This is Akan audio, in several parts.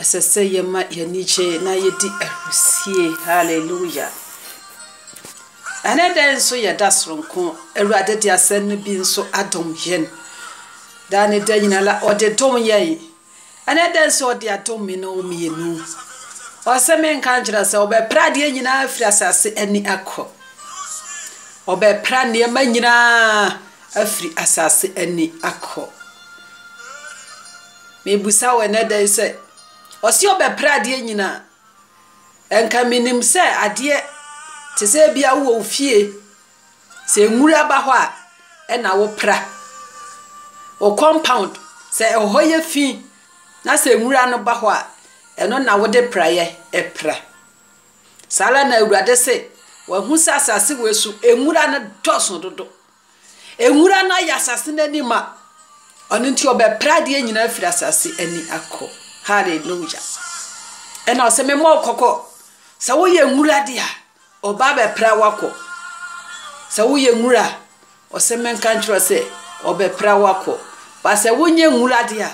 Ɛsɛ sɛ yɛma yɛn ani gye na yedi ahurusie. Hallelujah! Ɛne dɛn nso yɛ da soronko. Awurade de asɛm no bi nso adom yɛn. Daa ne da nyinaa la, ɔde dom yɛn. Ɛne dɛn nso ɔde adom me no mmienu. Ɔsɛ menka nkyerɛ sɛ ɔbɛpra adeɛ nyinaa afiri asase ani akɔ. Ɔbɛpra nneɛma nyinaa afiri asase ani akɔ. Mebisa wo ɛnnɛ da yi sɛ, ɔse ɔbɛpra adeɛ nyinaa. Ɛnka menim sɛ adeɛ te sɛ ebia wowɔ wo fie, sɛ nwura ba hɔ a ɛna wopra. Wo compound, sɛ ɛhɔ yɛ fi na sɛ nwura no ba hɔ a, ɛno na wode praeɛ pra. Saa ara na Awurade se, wahu sɛ asase wei so nwura no dɔɔso dodo. Nwura no ayɛ asase no ani ma, ɔno nti ɔbɛpra adeɛ nyinaa afiri asase ani akɔ. Hallelujah. Ɛna ɔsɛ me mmɔ kɔkɔ. Sɛ woyɛ nwura de a, ɔba bɛpra wakɔ. Sɛ woyɛ nwura a, ɔsɛ me nka nkyerɛ sɛ ɔbɛpra wakɔ. Ba sɛ wonyɛ nwura de a,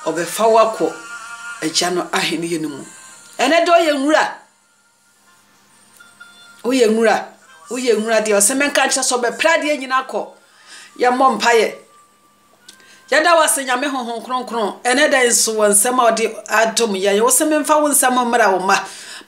ɔbɛfa wakɔ agya no ahenni no mu. Ɛnɛ de ɔyɛ nwura. Woyɛ nwura, woyɛ nwura deɛ ɔsɛ menka nkyerɛ sɛ ɔbɛpra adeɛ nyina kɔ. Yɛmmɔ mpaeɛ. Yɛda wo ase Nyame honhom kronkron ɛnɛ da yi nso wɔ nsɛm a ɔde adom yɛn. Wo se memfa wo nsɛm mmra wo mma.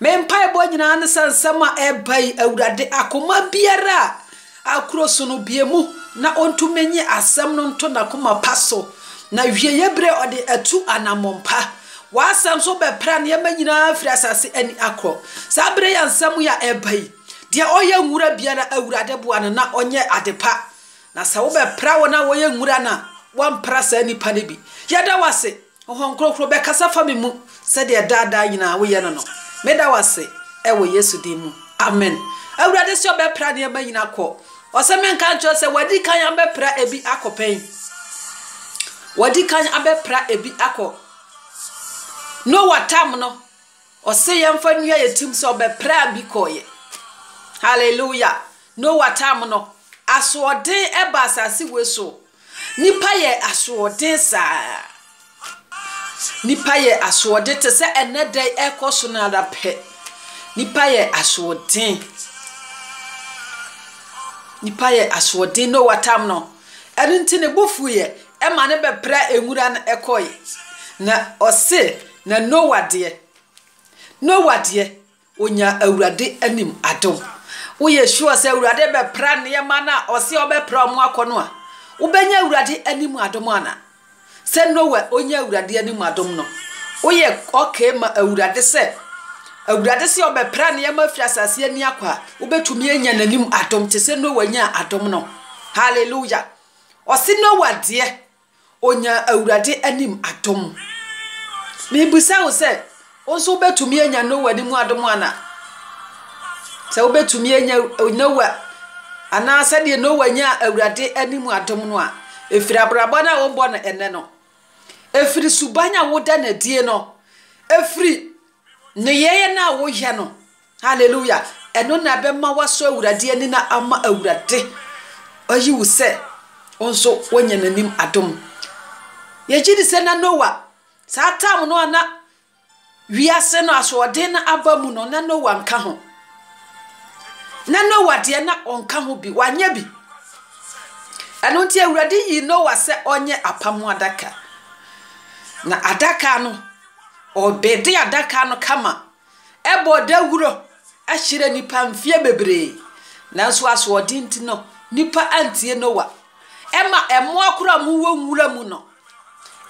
Me mpaebɔ nyinaa ne sɛ nsɛm a ɛreba yi Awurade akoma biara a Akuro so no bue mu na ɔntumi nnye asɛm no nto n'akoma pa so, na awieeɛ berɛ ɔde atu anammɔn pa. W'asɛm nso bɛpra nneɛma nyinaa afiri asase ani akorɔ. Saa berɛ yi a nsɛm yi a ɛreba yi, deɛ ɔyɛ nwura biara, Awurade boa no na ɔnyɛ ade pa. Na sɛ wobɛpra wɔn a wɔyɛ nwura no a, woampra saa nnipa no bi. Yɛda wo ase. Honhom Kronkron bɛkasa afa me mu sɛdeɛ daa daa nyinaa woyɛ no no. Meda wo ase wɔ Yesu din mu, amen. Awurade se ɔbɛpra nneɛma nyinaa akɔ. Ɔse menka nkyerɛ wo sɛ wadi kan abɛpra ebi akɔ pɛn? Wadi kan abɛpra ebi akɔ. Noa tam no, ɔse yɛmfa nnua yɛ tim sɛ ɔbɛpraa bi kɔɔyɛ. Hallelujah. Noa tam no, asoɔden ɛba asase wei so. Nnipa yɛ asoɔden saa. Nnipa yɛ asoɔden te sɛ ɛnɛ da yi ɛkɔ so no ara pɛ. Nnipa yɛ asoɔden. Nnipa yɛ asoɔden Noa tam no. Ɛno nti ne bo fuiɛ ɛma ne bɛpra nwura no ɛkɔe. Na ɔse na Noa deɛ, Noa deɛ, Onya Awurade anim adom. Woyɛ sure sɛ Awurade bɛpra nneɛma no a ɔse ɔbɛpra ɔmo akɔ no a, wobɛnya Awurade anim adom ana? Sɛ Noah onyaa Awurade anim adom no, woyɛ okay ma Awurade sɛ Awurade se ɔbɛpra nneɛma afiri asase ani akɔ a, wobɛtumi anya n'anim adom te sɛ Noah nyaa adom no? Hallelujah! Ɔse Noah deɛ Ɔnyaa Awurade anim adom. Mebisa wo sɛ, wo nso wobɛtumi anya Noa anim adom anaa? Sɛ wobɛtumi anya Noa, anaa sɛdeɛ Noa nyaa Awurade anim adom no a, ɛfiri abrabɔ no a wobɔ no ɛnɛ no, ɛfiri suban a woda no adie no, ɛfiri nneyɛeɛ no a woyɛ no, Hallelujah! Ɛno na ɛbɛma woasɔ Awurade ani na ama Awurade ayi wo sɛ wo nso woanya n'anim adom. Yɛgye di sɛ na Noa, saa tam no a na wiase no asoɔden no aba mu no, na Noa nka ho. Na Noa deɛ na ɔnka ho bi, wanyɛ bi. Ɛno nti Awurade yii Noa sɛ ɔnyɛ apam ho adaka. Na adaka no, ɔbɛde adaka no kama Ɛbɔ dawuro kyerɛ nnipa mfeɛ bebree. Nanso asoɔden nti no, nnipa antie Noa. Ɛma mmoa koraa a wɔwɔ nwura mu no,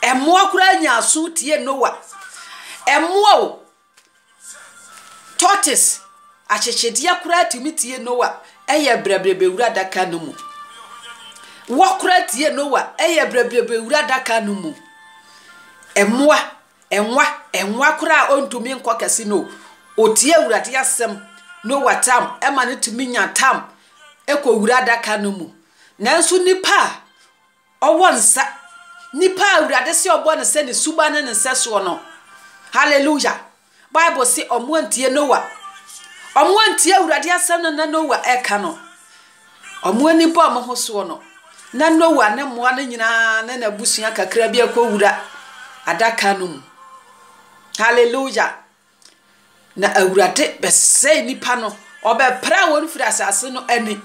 mmoa koraa nyaa aso tie Noa. Mmoa o, tortoise, ahyehyedeɛ koraa tumi tie Noa yɛ brɛbrɛbrɛ wura adaka no mu. Wɔ koraa tie Noa yɛ brɛbrɛbrɛ wura adaka no mu. Mmoa Ɛnwa, ɛnwa koraa a ɔntumi nkɔ kɛse no, ɔtie Awurade asɛm na ɔwɔ tam, ɛma no tumi nya tam kɔ wura adaka no mu. Nanso nipa a ɔwɔ nsa, nipa a Awurade se ɔbɔ no sɛ ne suba ne ne nsɛsoɔ no, hallelujah, Bible se wɔn antie Noah, wɔn antie Awurade asɛm no na Noah ɛka no. Wɔn ani bɔɔ wɔn ho soɔ no, na Noa ne mmoa no nyinaa ne n'abusua kakra bi rekɔwura adaka no mu. Hallelujah! Na Awurade bɛsɛe nnipa no. Ɔbɛpra wɔn firi asase no ani.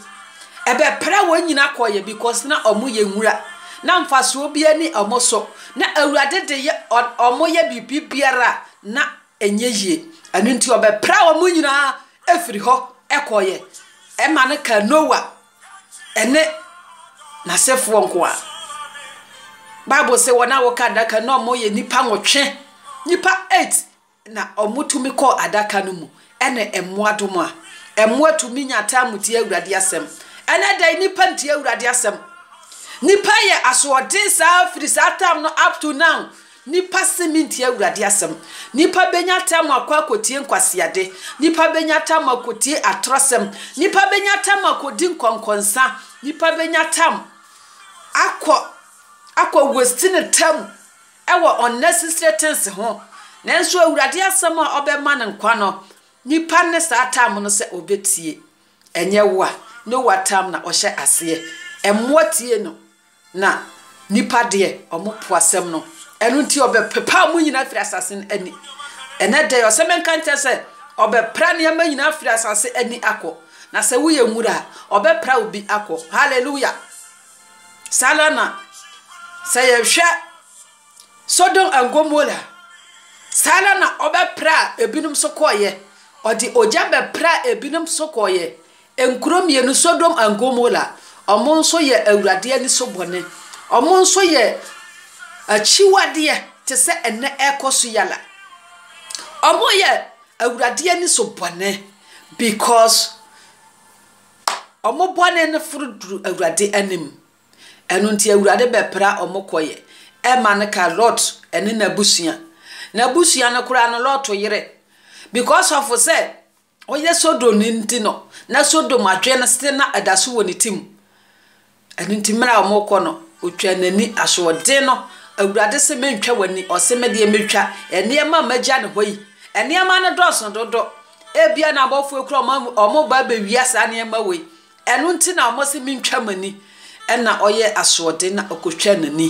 Ɛbɛpra wɔn nyinaa kɔeɛ because na wɔyɛ nwura. Na mfasoɔ biara ni wɔn so. Na Awurade de yɛ wɔn yɛ biribi biara a na ɛnyɛ yie. Ɛno nti ɔbɛpraa wɔn nyinaa firii hɔ kɔeɛ. Ɛma no kaa Noa ne n'asefoɔ nko ara. Bible sɛ wɔn a wɔka adaka no na wɔyɛ nnipa nwɔtwe. Nnipa eight na wɔtumi kɔɔ adaka no mu ne mmoa dom a. Mmoa tumi nya time tie Awurade asɛm. Ɛnɛ da yi nnipa ntie Awurade asɛm. Nnipa yɛ asoɔden saa firi saa time no up to now. Nnipa se mentie Awurade asɛm. Nnipa bɛnya tam akɔ akɔtie nkwaseade. Nnipa bɛnya tam akɔtie atorɔsɛm. Nnipa bɛnya tam akɔdi nkɔnkɔnsa. Nnipa bɛnya tam akɔ akɔ wasti ne tam wɔ unnecessary things ho. Nanso Awurade asɛm a ɔbɛma no nkwa no, nnipa nne saa tam no sɛ ɔbɛtie. Ɛnyɛ wo a, ne w'atam na ɔhyɛ aseɛ. Mmoa tie no. Na nnipa deɛ, wɔpo asɛm no, ɛno nti ɔbɛpepa wɔn nyinaa afiri asase no ani. Ɛnnɛ da yi, ɔsɛ menka nkyɛ sɛ, ɔbɛpra nneɛma nyinaa afiri asase ani akɔ. Na sɛ woyɛ nwura a, ɔbɛpra wo bi akɔ. Hallelujah! Saa ara na sɛ yɛhwɛ Sodom and Gomorrah, saa ara na ɔbɛpra ebinom so kɔɔyɛ. Ɔde ogya bɛpra ebinom so kɔɔyɛ. Nkuro mmienu, Sodom and Gomola, wɔn nso yɛ Awurade ani so bɔne. Wɔn nso yɛ akyiwadeɛ te sɛ ɛnnɛ ɛrekɔ so yi ara. Wɔyɛ Awurade ani so bɔne because wɔn bɔne no foro duru Awurade anim. Ɛno nti Awurade bɛpra wɔn kɔeɛ. Ɛma no ka Lot ne n'abusua. N'abusua no koraa no, Lot yere. Because of sɛ ɔyɛ Sodomni nti no, na Sodom adwene na ɛda so wɔ ne ti mu. Ɛno nti, mmerɛ a wɔrekɔ no, ɔtwaa n'ani. Asoɔden no, Awurade se mentwa w'ani, ɔse me deɛ mɛtwa. Nneɛma a magya no hɔ yi, nneɛma no dɔɔso dodo. Ebia na abɔfoɔ kura wɔn reba abɛwia saa nneɛma wei. Ɛno nti na wɔse mentwa m'ani, ɛnna ɔyɛɛ asoɔden na ɔkotwaa n'ani,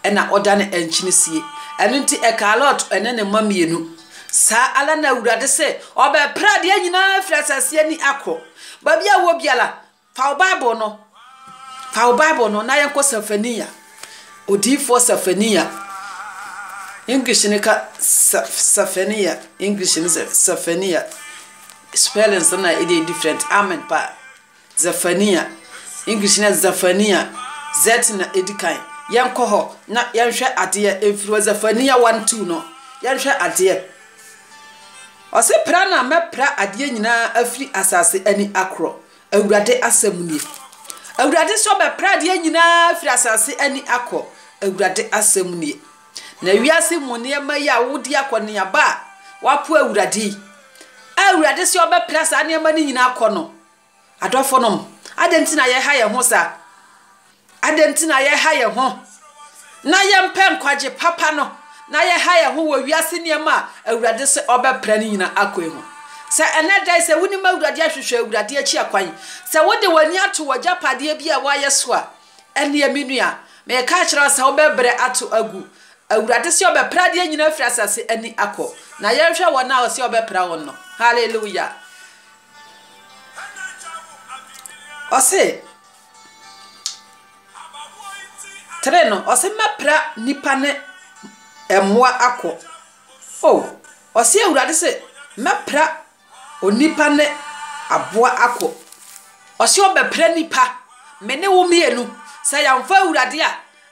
ɛnna ɔdanee ankyene sie. Ɛno nti ɛkaa Lot ne ne mma mmienu, Saa ara na Awurade se, Ɔbɛpra adeɛ nyina ara afiri asase ani akɔ. Baabi a wowɔ biara, fa wo Bible no, fa wo Bible no na yɛnkɔ Safania, odiyifoɔ Safania, English no ka Safania, English no sɛ Safania. spellings no na ɛdeɛ different amen pa Zephaniah English na Zephaniah Z na ɛdi kan yɛnkɔ hɔ na yɛnhwɛ adeɛ ɛmfiri hɔ Zephaniah 1 2 no yɛnhwɛ adeɛ ɔse pra na mɛpra adeɛ nyinaa afiri asase ani akorɔ awurade asɛm nie awurade sɛ ɔbɛpra adeɛ nyinaa afiri asase ani akɔ awurade asɛm nie Na wiase mu nneɛma yi a wodi akɔneaba a wɔapo Awurade yi, a Awurade se ɔbɛpra saa nneɛma no nyinaa akɔ no, adɔfonom, adɛn nti na yɛha yɛn ho saa? Adɛn nti na yɛha yɛn ho na yɛmpɛ nkwagye papa no, na yɛha yɛn ho wɔ wiase nneɛma a Awurade se ɔbɛpra no nyinaa akɔ yi ho? Sɛ ɛnnɛ da yi, sɛ wonim Awurade ahwehwɛ Awurade akyi akwan, sɛ wode w'ani ato w'agyapadeɛ bi a woayɛ so a, Ɛnneɛ, me nua, mereka akyerɛ wo sɛ wobɛbrɛ ato agu. Awurade se ɔbɛpra adeɛ nyinaa afiri asase ani akɔ. Na yɛnhwɛ wɔn a ɔse ɔbɛpra wɔn no. Hallelujah! Ɔse, Three no, ɔse mɛpra nipa ne mmoa akɔ. Oh, ɔse Awurade se mɛpra Onipa ne aboa ako. Ɔse ɔbɛpra nnipa, me ne wo mmienu. Sɛ yɛamfa Awurade a,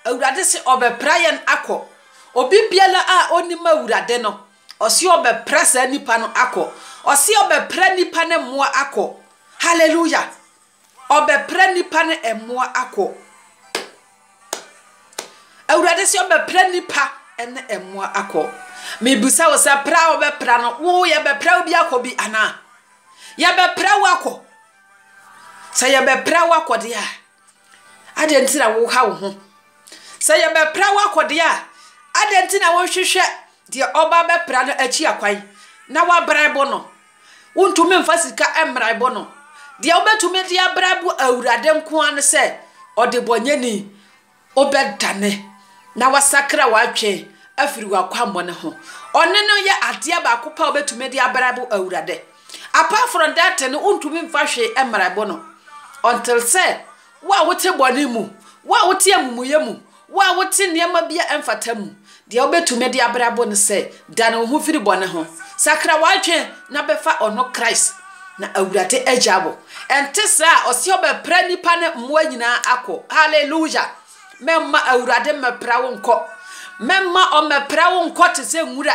Awurade se ɔbɛpra yɛn akɔ. Obi biara a ɔnnim Awurade no, ɔse ɔbɛpra saa nnipa no akɔ. Ɔse ɔbɛpra nnipa ne mmoa akɔ. Hallelujah! Ɔbɛpra nnipa ne mmoa akɔ. Awurade se ɔbɛpra nnipa ne mmoa akɔ. Mebisa wo sɛ pra a ɔbɛpra no, wo yɛbɛpra wo bi akɔ bi anaa? Yɛbɛpra wo akɔ. Sɛ yɛbɛpra wo akɔ deɛ a, adɛn nti na woha wo ho? Sɛ yɛbɛpra wo akɔ deɛ a, adɛn nti na wonhwehwɛ deɛ ɔba bɛpra no akyi akwan na woabrɛ bo no? Wontumi mfa sika mmara ɛbɔ no. Deɛ wobɛtumi de abra bo Awurade nko ara ne sɛ ɔdebɔnyɛni, wobɛdane na wasakra w'adwen afiri w'akwammɔne ho. Ɔne no yɛ adeɛ baako pɛ a wobɛtumi de abra bo Awurade. Apart from that no, wontumi mfa hwee mmara ɛbɔ no until sɛ Wo a wote bɔne mu, wo a wote amumuyɛ mu, wo a wote nneɛma bi a ɛmfata mu, deɛ wobɛtumi de abrabɔ ne sɛ, dane wo ho firi bɔne ho, sakra w'adwene na bɛfa Ɔno Christ, na Awurade agya wo. Ɛnte saa a, ɔse ɔbɛpra nnipa ne mmoa nyinaa akɔ. Hallelujah! Mɛmma Awurade mmɛpra wo nkɔ. Mɛmma Ɔmmɛpra wo nkɔ te sɛ nwura.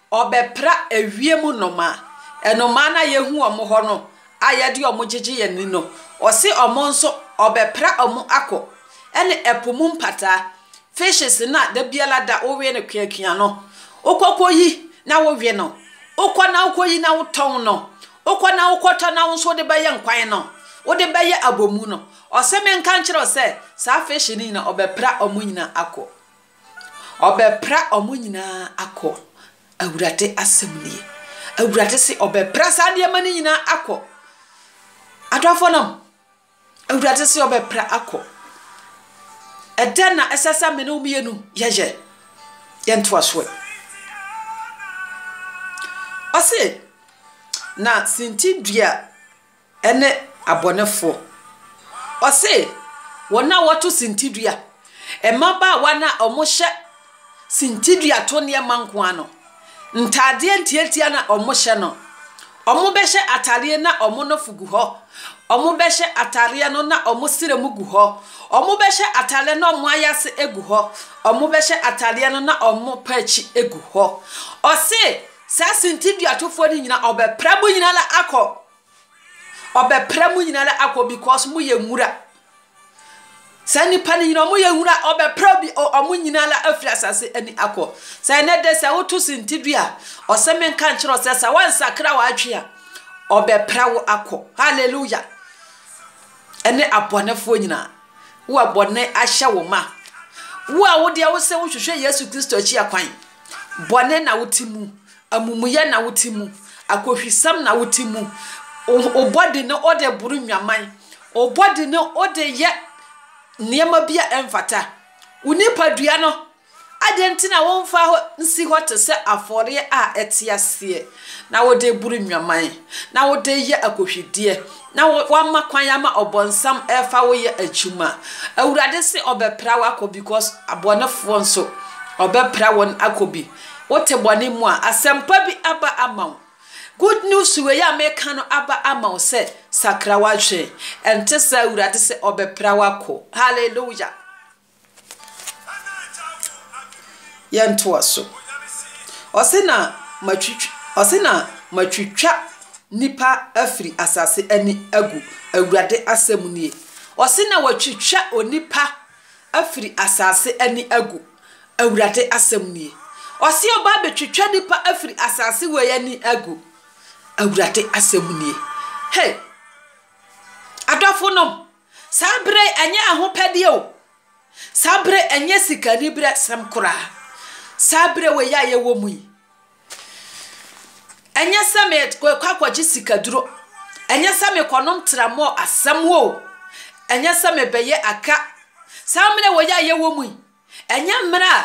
Wɔbɛpra ewiem nnomaa. Nnomaa no a yɛhu wɔn wɔ hɔ no a yɛde wɔn gyegye yɛn ani no, ɔse wɔn nso wɔbɛpra wɔn akɔ. Ɛne ɛpo mu mpataa, fishes, no a da biara da wowe no kuakua no, wokɔkɔyi na wowe no, wokɔ na wokɔyi na wotɔn no, wokɔ na wokɔtɔ na wo nso wode bɛyɛ nkwan no, wode bɛyɛ abomu no. Ɔse menka nkyerɛ wo sɛ saa fish no nyinaa wɔbɛpra wɔn nyinaa akɔ. Ɔbɛpra wɔn nyinaa akɔ, Awurade asɛm nie. Awurade se ɔbɛpra saa nneɛma no nyinaa akɔ. Adɔfoɔ nom, Awurade se ɔbɛpra akɔ. Ɛdɛn na ɛsɛ sɛ me ne wo mmienu yɛyɛ? Yɛntoa so ɛ. Ɔse, na sintidua ne abɔnefo. Ɔse, wɔn a wɔto sintidua, mmabaawa no a wɔhyɛ sintidua to nneɛma nko ara no, ntaadeɛ ntiantia na wɔhyɛ no. Wɔbɛhyɛ ataadeɛ na wɔn nofo gu hɔ, wɔbɛhyɛ ataadeɛ no na wɔn srɛ mu gu hɔ, wɔbɛhyɛ ataadeɛ na wɔn ayase gu hɔ, wɔbɛhyɛ ataadeɛ no na wɔn pɛ akyi gu hɔ. Ɔse, saa sintiduatofoɔ no nyinaa, wɔbɛpra mo nyinaa akɔ. Ɔbɛpra mo nyinaa akɔ because mo yɛ nwura. Saa nipa no nyinaa ɔmo yɛ nwura ɔbɛpra bi ɔmo nyinaa afiri asase ani akɔ. Sɛ ɛnɛ de sɛ woto senti dua a ɔsɛ me nka nkyerɛ sɛ sɛ wansakra w'adwene a ɔbɛpra wo akɔ. Hallelujah. Ɛne abɔnefoɔ nyinaa. Wo a bɔne ahyɛ wo ma. Wo a wodeɛ wo sɛ wohwehwɛ Yesu Kristo akyi akwan. Bɔne na wote mu. Amumuyɛ na wote mu, akohwisɛm na wote mu, wo bɔ de ne wode boro nnwaman, wo bɔ de ne wode yɛ nneɛma bi a ɛmfata. Wo nipadua no, adɛn nti na womfa hɔ nsi hɔ te sɛ afɔreɛ a ɛte aseɛ, na wode boro nnwaman, na wode yɛ akohwideɛ, na woama kwan ama ɔbɔnsam ɛfa wo yɛ adwuma? Awurade se ɔbɛpra wo akɔ because abɔnefoɔ nso ɔbɛpra wɔn akɔ bi. Wote bɔne mu a, asɛmpa bi aba ama wo. Good news wei a meka no aba ama wo sɛ, sakra w'adwene. Ɛnte saa a, Awurade se ɔbɛpra wo akɔ. Hallelujah! Yɛntoa so. Ɔse na matwitwa, ɔse na matwitwa nipa afiri asase ani agu. Awurade asɛm nie. Ɔse na watwitwa onipa afiri asase ani agu. Awurade asɛm nie. Ɔse ɔba abɛtwitwa nnipa afiri asase wei ani agu. Awurade asɛm nie. Hey! Adɔfonom, saa berɛ yi ɛnyɛ ahopɛdeɛ o. Saa berɛ yi ɛnyɛ sikaniberɛsɛm koraa. Saa berɛ wei a yɛwɔ mu yi, ɛnyɛ sɛ mekɔ akɔgye sikaduro, ɛnyɛ sɛ mekɔnom tramɔɔ asɛm o, ɛnyɛ sɛ mebɛyɛ aka. Saa mmerɛ wei a yɛwɔ mu yi, Ɛnyɛ mmerɛ a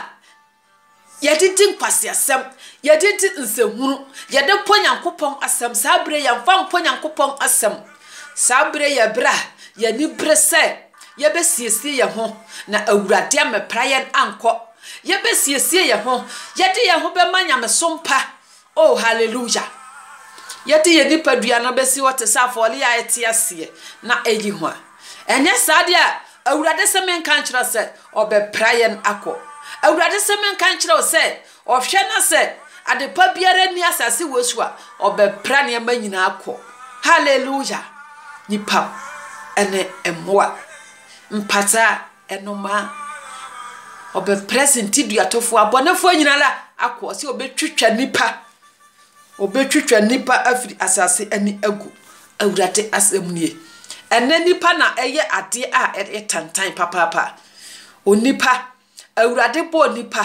yɛde di nkwaseasɛm, yɛde di nsɛnhunu, yɛde pɔ Nyankopɔn asɛm, saa berɛ yi yɛmfa mpɔ Nyankopɔn asɛm. Saa berɛ yi yɛ berɛ a yɛn ani bere sɛ yɛbɛsiesie yɛn ho na Awurade ammɛpra yɛn ankɔ. Yɛbɛsiesie yɛn ho, yɛde yɛn ho bɛma nyamesom pa Oh, hallelujah! Yɛde yɛn nipadua no besi hɔ te sɛ afɔre a ɛte aseɛ na ɛyɛ hua. Ɛnyɛ saa deɛ a, Awurade se menka nkyerɛ wo sɛ, Ɔbɛpra yɛn akɔ. Awurade se menka nkyerɛ wo sɛ, Ɔhwɛ na sɛ adepa biara nni asase wei so a, Ɔbɛpra nneɛma nyinaa akɔ. Hallelujah! Nnipa ne mmoa mpataa. Ɛno ma ɔbɛprɛse ntiduatofoɔ, abɔnefoɔ nyinaa akɔ, sɛ ɔbɛtwitwa nnipa, ɔbɛtwitwa nnipa afiri asase ani agu, Awurade asɛm nie. Ɛnnɛ nnipa na ɛyɛ adeɛ a ɛyɛ tantan papaapa. Onipa, Awurade bɔɔ nnipa.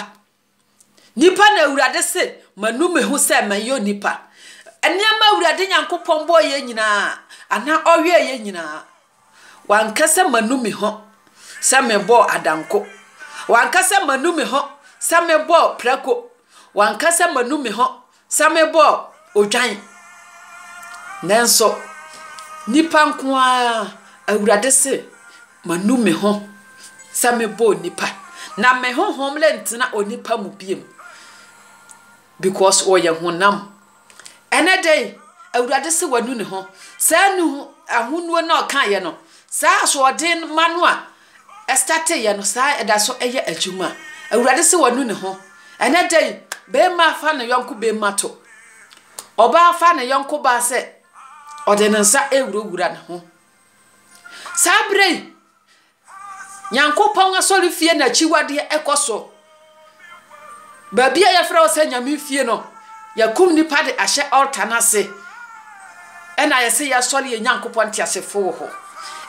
Nipa na Awurade se, Manu me ho sɛ mɛyɛ onipa. Nneɛma Awurade Nyankopɔn bɔeɛ nyinaa anaa ɔyɛeɛ nyinaa, wanka sɛ manu me ho sɛ mebɔɔ adanko. Wanka sɛ manu me ho sɛ mebɔɔ prako. Wanka sɛ manu me ho Sɛ mebɔ odwan, nanso nnipa nko ara, Awurade se, manu me ho sɛ mebɔ onipa, na me honhom rentena onipa mu bio, because ɔyɛ honam. Ɛnɛ dɛn? Awurade se wanu ne ho. Saa nu ahonuo no a ɔkaeɛ no, saa asoɔden mma no a Ɛstarteeɛ no saa ɛda so yɛ adwuma awurade se wanu ne ho ɛnɛ da yi beema fa ne yɔnko beema to ɔbaa fa ne yɔnko baa sɛ ɔde ne nsa ewura wura ne ho saa berɛ yi Nyankopɔn asɔrefie na akyiwadeɛ ɛkɔ so Baabi a yɛfrɛ hɔ sɛ Nyame fie no, yɛakum nnipa de ahyɛ altar no ase, ɛna yɛse yɛsɔre yɛn Nyankopɔn teasefo wɔ hɔ.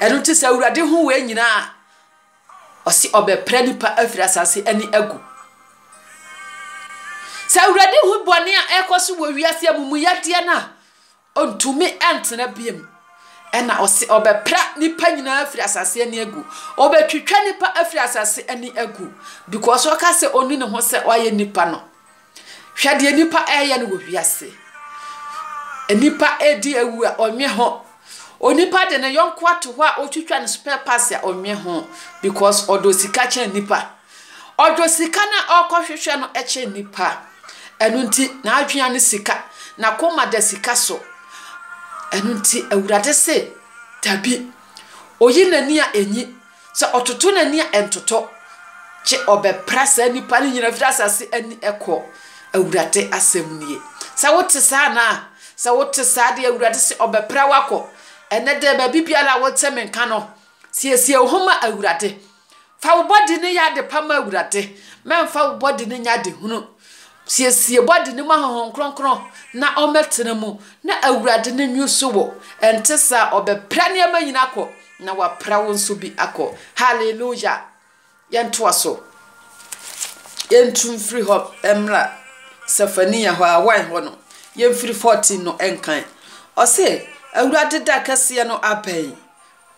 Ɛno nti sɛ Awurade hu wei nyinaa a, ɔse ɔbɛpra nnipa afiri asase ani agu. Sɛ Awurade hu bɔne a ɛrekɔ so wɔ wiase, amumuyɛdeɛ no a, Ontumi ntena bio. Ɛnna ɔse, Ɔbɛpra nnipa nyinaa afiri asase ani agu. Ɔbɛtwitwa nnipa afiri asase ani agu, because ɔka sɛ ɔnni ne ho sɛ wayɛ nnipa no. Hwɛ deɛ nnipa reyɛ no wɔ wiase. Nnipa redi awu a ɔnnwe ho. Onipa de ne yɔnko ato hɔ a ɔtwitwa ne spare parts a ɔnnwe ho, because ɔdɔ sika kyɛn nnipa. Ɔdɔ sika no a ɔrekɔhwehwɛ no kyɛn nnipa. Ɛno nti, n'adwene ne sika, n'akoma da sika so. Ɛno nti, Awurade se, Dabi. Oyi n'ani a, enyi, sɛ ɔtoto n'ani a, ɛntoto, gye ɔbɛpra saa nnipa no nyinaa firi asase ani kɔ. Awurade asɛm nie. Sɛ wote saa anaa? Sɛ wote saa deɛ, Awurade se, ɔbɛpra wo akɔ. Ɛnnɛ da yi, baabi biara a wote me nka no, siesie wo ho ma Awurade. Fa wo bɔde no yɛ ade pa ma Awurade, mɛmfa wo bɔde no nyɛ ade hunu. Siesie bɔde no ma Honhom Kronkron na ɔmmɛtena mu, na Awurade no nwiusu wo, ɛnte saa a ɔbɛpra nneɛma nyina akɔ, na wapra wo nso bi akɔ. Hallelujah! Yɛntoa so. Yɛntu mfiri hɔ mmra Sefania hɔ, awan hɔ no? Yɛmfiri 14 no nkan. Ɔse, Awurade da kɛseɛ no abɛn.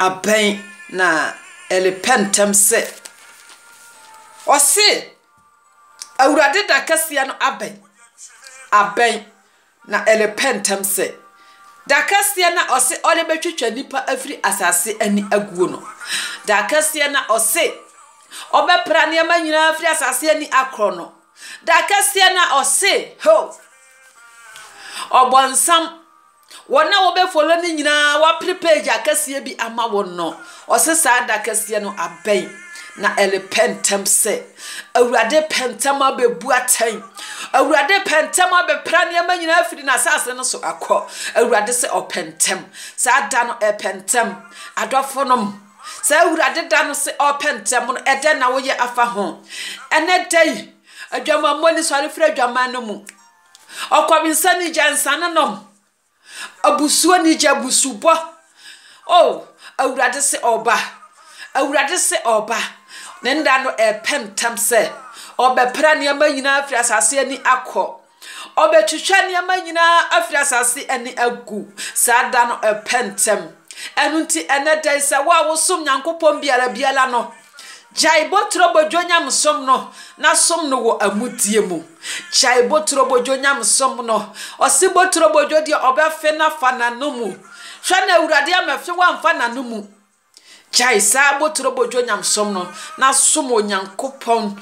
abɛn na Eli pɛ ntɛm sɛ, ɔse, Awurade da kɛseɛ no abɛn, abɛn, na Eli pɛ ntɛm sɛ, da kɛseɛ na ɔse ɔde bɛtwitwa nnipa afiri asase ani aguo no, da kɛseɛ na ɔse ɔbɛpra nneɛma nyinaa afiri asase ani akorɔ no, da kɛseɛ na ɔse, ho, ɔbɔnsam, Wɔn a wɔbɛ follow no nyinaa wapere page akɛseɛ bi ama wɔn no, ɔse saa da kɛseɛ no abɛn na ɛrepɛ ntɛm sɛ Awurade pɛ ntɛm abɛbu atɛn. Awurade pɛ ntɛm abɛpra nneɛma nyinaa afiri n'asase no so akɔ. Awurade sɛ ɔpɛ ntɛm. Saa da no ɛpɛ ntɛm. Adɔfo nom, saa Awurade da no sɛ ɔpɛ ntɛm no, ɛdɛn na woyɛ afa ho? Ɛnɛ da yi, adwamammɔ ni sɔre firi adwaman no mu. Ɔkɔmnsa ni gya nsanonom. Abusuo ni gya abusubɔ. O, Awurade se Ɔreba. Awurade se Ɔreba. Ne nna no repɛ ntɛm sɛ Ɔbɛpra nneɛma nyinaa afiri asase ani akɔ. Ɔbɛtwitwa nneɛma nyinaa afiri asase ani agu. Saa da no repɛ ntɛm. Ɛno nti, ɛnɛ da yi, sɛ wo a wosom Nyankopɔn biara biara no, Gyae boturobodwo nyamesom no na som no wɔ amudie mu. Gyae boturobodwo nyamesom no. Ɔse boturobodwo deɛ ɔbɛfe no afa n'ano mu. Hwɛ na Awurade ama fe wamfa n'ano mu. Gyae saa boturobodwo nyamesom no na som Onyankopɔn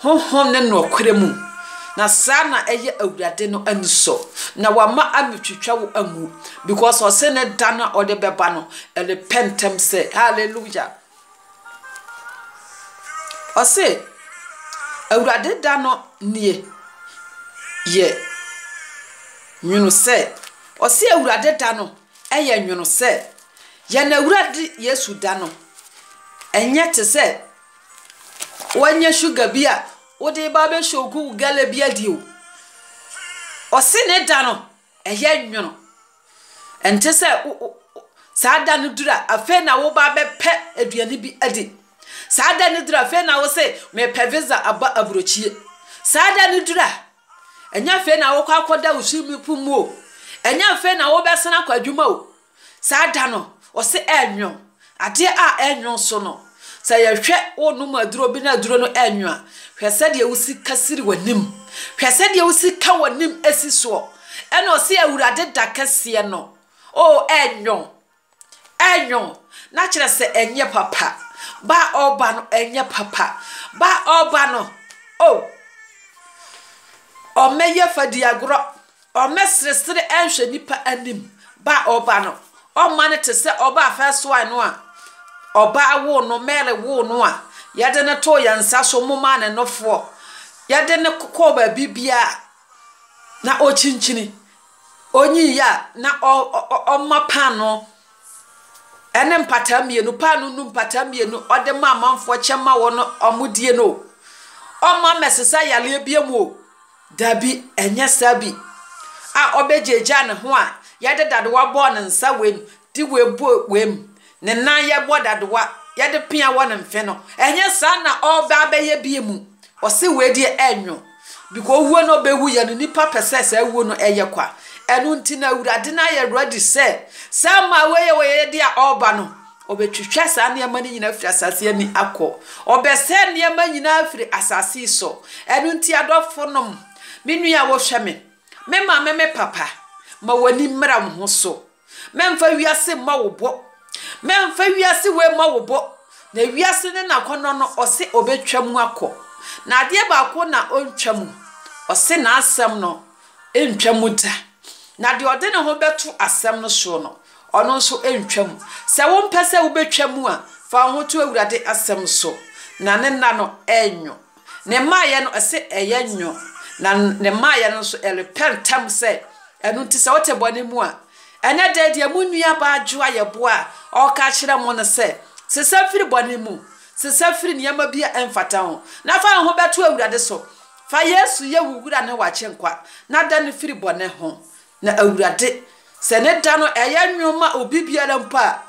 Honhom ne noɔkorɛ mu. Na saa na ɛyɛ Awurade no anisɔ. Na wama ametwitwa wo amu. Because ɔse ne da no a ɔde bɛba no, ɛrepɛ ntɛm sɛ. Hallelujah. Ɔse, Awurade da no nie yɛ nwono sɛ. Ɔse, Awurade da no yɛ nwono sɛ. Yɛn Awurade Yesu da no nyɛ te sɛ woanya sugar bi a wode reba abɛhyɛ wo galley bi adi o. Ɔse ne da no Ɛyɛ nwono. Ɛnte sɛ wo, wo, wo, saa da no duru a, afei na woba abɛpɛ aduane bi adi. Saa da no duru a, afei na wose, mepɛ visa aba aburokyie. Saa da no duru a, ɛnyɛ afei na wokɔ akɔda wo swimming pool mu o, ɛnyɛ afei na wobɛsan akɔ adwuma o, Saa da no, ɔse ɛɛnwo. Adeɛ a ɛɛnwo nso no, sɛ yɛhwɛ wo nom aduro bi na aduro no ɛɛnwo a, hwɛ sɛdeɛ wo sika siri w'anim. Hwɛ sɛdeɛ wo sika w'anim si soɔ. Ɛna ɔse Awurade da kɛseɛ no, oo ɛɛnwo. Ɛɛnwo. Na kyerɛ sɛ ɛnyɛ papa. Ba a ɔɔba no ɛnyɛ papa. Ba a ɔɔba no, oo, ɔmmɛyɛ fadiagorɔ. Ɔmmɛseresere nhwɛ nnipa anim ba a ɔreba no. Ɔmma no te sɛ ɔbaa fɛɛsoae no a ɔbaa woo no, Mary woo no a yɛde no too yɛn nsa so momaa ne nofoɔ, yɛde no kɔɔ baabi biara a na ɔkyinkyini, ɔnyiiɛ a na ɔma paanoo ne mpataa mmienu, paanoo nu mpataa mmienu, ɔde ma amanfoɔ kyɛ ma wɔn a wɔdie no o. Ɔmma mmɛsesa yareɛ biam o. Dabi, ɛnyɛ saa bi a ɔbɛgyaagyaa ne ho a yɛde dadewa bɔɔ ne nsa wei mu, de wei bɔɔ wei mu, ne nan yɛbɔ dadewa, yɛde pea wɔ ne mfe no, ɛnyɛ saa na ɔreba abɛyɛ bi mu. Ɔse wei deɛ ɛnwo, biko owuo no ɔbɛwu yɛ no, nnipa pɛ sɛ saa wuo no ɛyɛ kwa. Ɛno nti no Awurade no ayɛ ready sɛ saa mmaa wei yɛ wɔyɛ deɛ a ɔreba no, Ɔbɛtwitwa saa nneɛma no nyinaa afiri asase ani akɔ. Ɔbɛsɛe nneɛma nyinaa afiri asase so. Ɛno nti, adɔfonom, me nua a wohwɛ me, me maame, me papa, ma w'ani mmra wo ho so. Mɛmfa wiase mmɔ wo bɔ. Mɛmfa wiase wei mmɔ wo bɔ. Na wiase ne n'akɔnnɔ no, ɔse ɔbɛtwa mu akɔ. Na adeɛ baako na ɔntwa mu. Ɔse n'asɛm no, Ntwa mu da. Na deɛ ɔde ne ho bɛto asɛm no soɔ no, ɔno nso ntwa mu. Sɛ wompɛ sɛ wobɛtwa mu a, fa wo ho to Awurade asɛm so, na ne nna no renwo. Ne mmaeɛ no, ɛse ɛyɛ nwo, na ne mmaeɛ no nso, ɛrepɛ ntɛm sɛ. Ɛno nti, sɛ wote bɔne mu a, ɛnnɛ da yi deɛ mo nuabaa Dwo a yɛboa a ɔreka akyerɛ mo no sɛ, sesa firi bɔne mu, sesa firi nneɛma bi a ɛmfata ho, na fa wo ho bɛto Awurade so. Fa Yesu yɛ wo Wura ne w'Agyenkwa, na da no firi bɔne ho. Na Awurade, sɛ ne da no ɛyɛ nwono ma obi biara mpo a,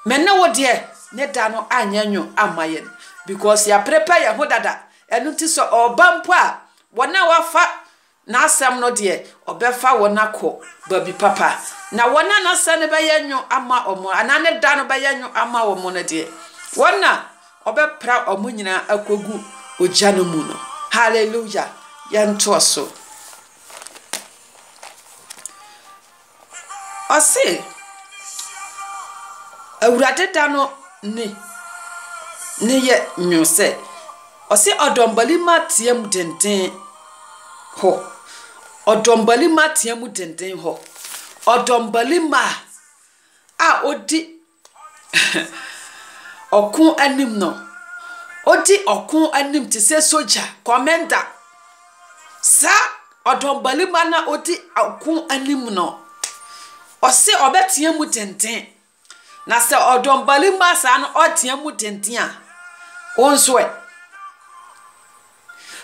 me ne wo deɛ, ne da no anyɛ nwono amma yɛn, because yɛaprepare yɛn ho dada, ɛno nti sɛ ɔreba mpo a, wɔn a wɔafa N'Asɛm no deɛ, ɔbɛfa wɔn akɔ baabi papa. Na wɔn a N'Asɛm no bɛyɛ nwono ama wɔn, anaa ne da no bɛyɛ nwono ama wɔn no deɛ, wɔn na Ɔbɛpra wɔn nyinaa akogu ogya no mu no. Hallelujah! Yɛntoa so. Ɔse, Awurade da no ni ne yɛ nwono sɛ, ɔse ɔdɔmbalima tea mu denden hɔ, ɔdɔmbalima tea mu denden hɔ, ɔdɔmbalima a odi Ɔko anim no, odi ɔko anim te sɛ sogya, kɔmɛnda. Saa ɔdɔmbalima no a odi ɔko anim no, ɔse ɔbɛtea mu denden. Na sɛ ɔdɔmbalima saa no ɔretea mu denden a, wo nso ɛ?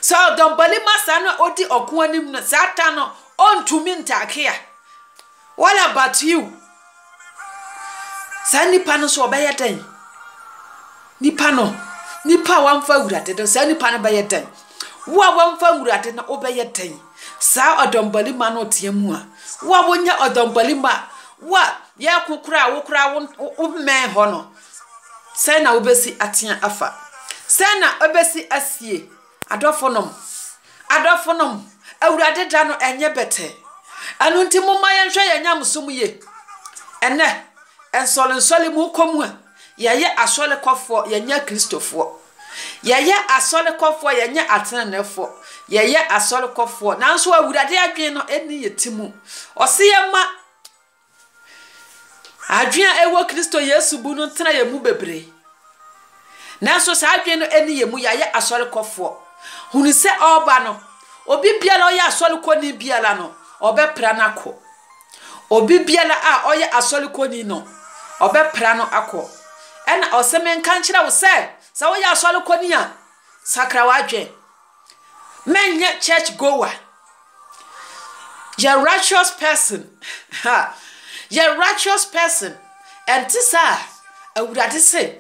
Sɛ ɔdɔmbalima saa na odi ɔko anim no, saa da no ontumi ntake a. What about you? Saa nipa no nso ɔbɛyɛ dɛn? Nipa no, nipa a wamfa Awurade no, saa nipa no bɛyɛ dɛn? Wo a wamfa Awurade no, wobɛyɛ dɛn? Saa ɔdɔmbalima no ɔteɛ mu a, wo a wonyɛ ɔdɔmbalima, wo a yɛko koraa wo koraa wo mmɛn hɔ no, Sɛn na wobesi atsea afa? Sɛn na obesi asie? Adɔfonom, adɔfonom, Ewuradze da no nnyɛ bɛtsɛɛ. Eno ntsi momma yɛnhwɛ hɛn nyamesom yie. Ndɛ, nsɔrnsɔr mu kɔ mu a, yɛyɛ asɔrkɔfoɔ, yɛnnyɛ Kristofoɔ. Yɛyɛ asɔrkɔfoɔ, yɛnnyɛ atseneneefoɔ. Yɛyɛ asɔrkɔfoɔ, nanso Ewuradze adwen no nnyi hɛn tsir mu. Ɔse yɛmma Adwene a ɛwɔ Kristo Yesu bu no ntena yɛn mu bebree. Nanso saa adwene no nni yɛn mu, yɛayɛ asɔrekɔfoɔ. Hunu sɛ ɔreba no, obi biara a ɔyɛ asɔrekɔni biara no, ɔbɛpra no akɔ. Obi biara a ɔyɛ asɔrekɔni no, ɔbɛpra no akɔ. Ɛna ɔse menka nkyerɛ wo sɛ, sɛ woyɛ asɔrekɔni a, sakra w'adwene. Mɛnyɛ church goer. Yɛ righteous person ha. Yɛ righteous person. Ɛnte saa. Awurade se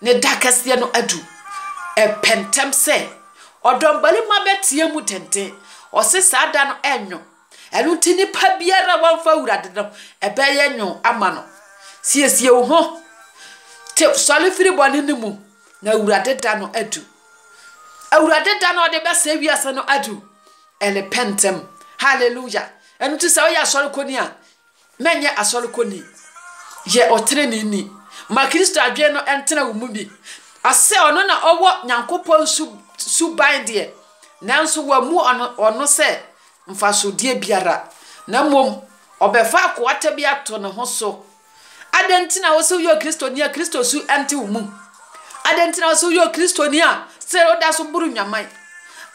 Ne da kɛseɛ no adu. Ɛpɛ ntɛm sɛ Ɔdɔmbarima bɛteɛ mu denden. Ɔse saa da no ɛnwo. Ɛno nti nipa biara a wamfa Awurade no, ɛbɛyɛ nwo ama no. Siesie wo ho. Te, sɔre firi bɔne no mu, na Awurade da no adu. Awurade da no a ɔde bɛsɛe wiase no adu. Ɛrepɛ ntɛm. Hallelujah. Ɛno nti sɛ woyɛ asɔrekɔni a, mɛnyɛ asɔrekɔni. Yɛ ɔteneneeni. Ma Kristo adwene no ntena wo mu bi. Asɛ ɔno na ɔwɔ Nyankopɔn su suban deɛ, nanso wammu ɔno ɔno sɛ mfasodeɛ biara, na mmom ɔbɛfa akoata bi ato ne ho so Adɛn nti na ɛwɔ sɛ woyɛ Kristoni a Kristo su nte wo mu? Adɛn nti na ɛwɔ sɛ woyɛ Kristoni a still woda so boro nnwaman?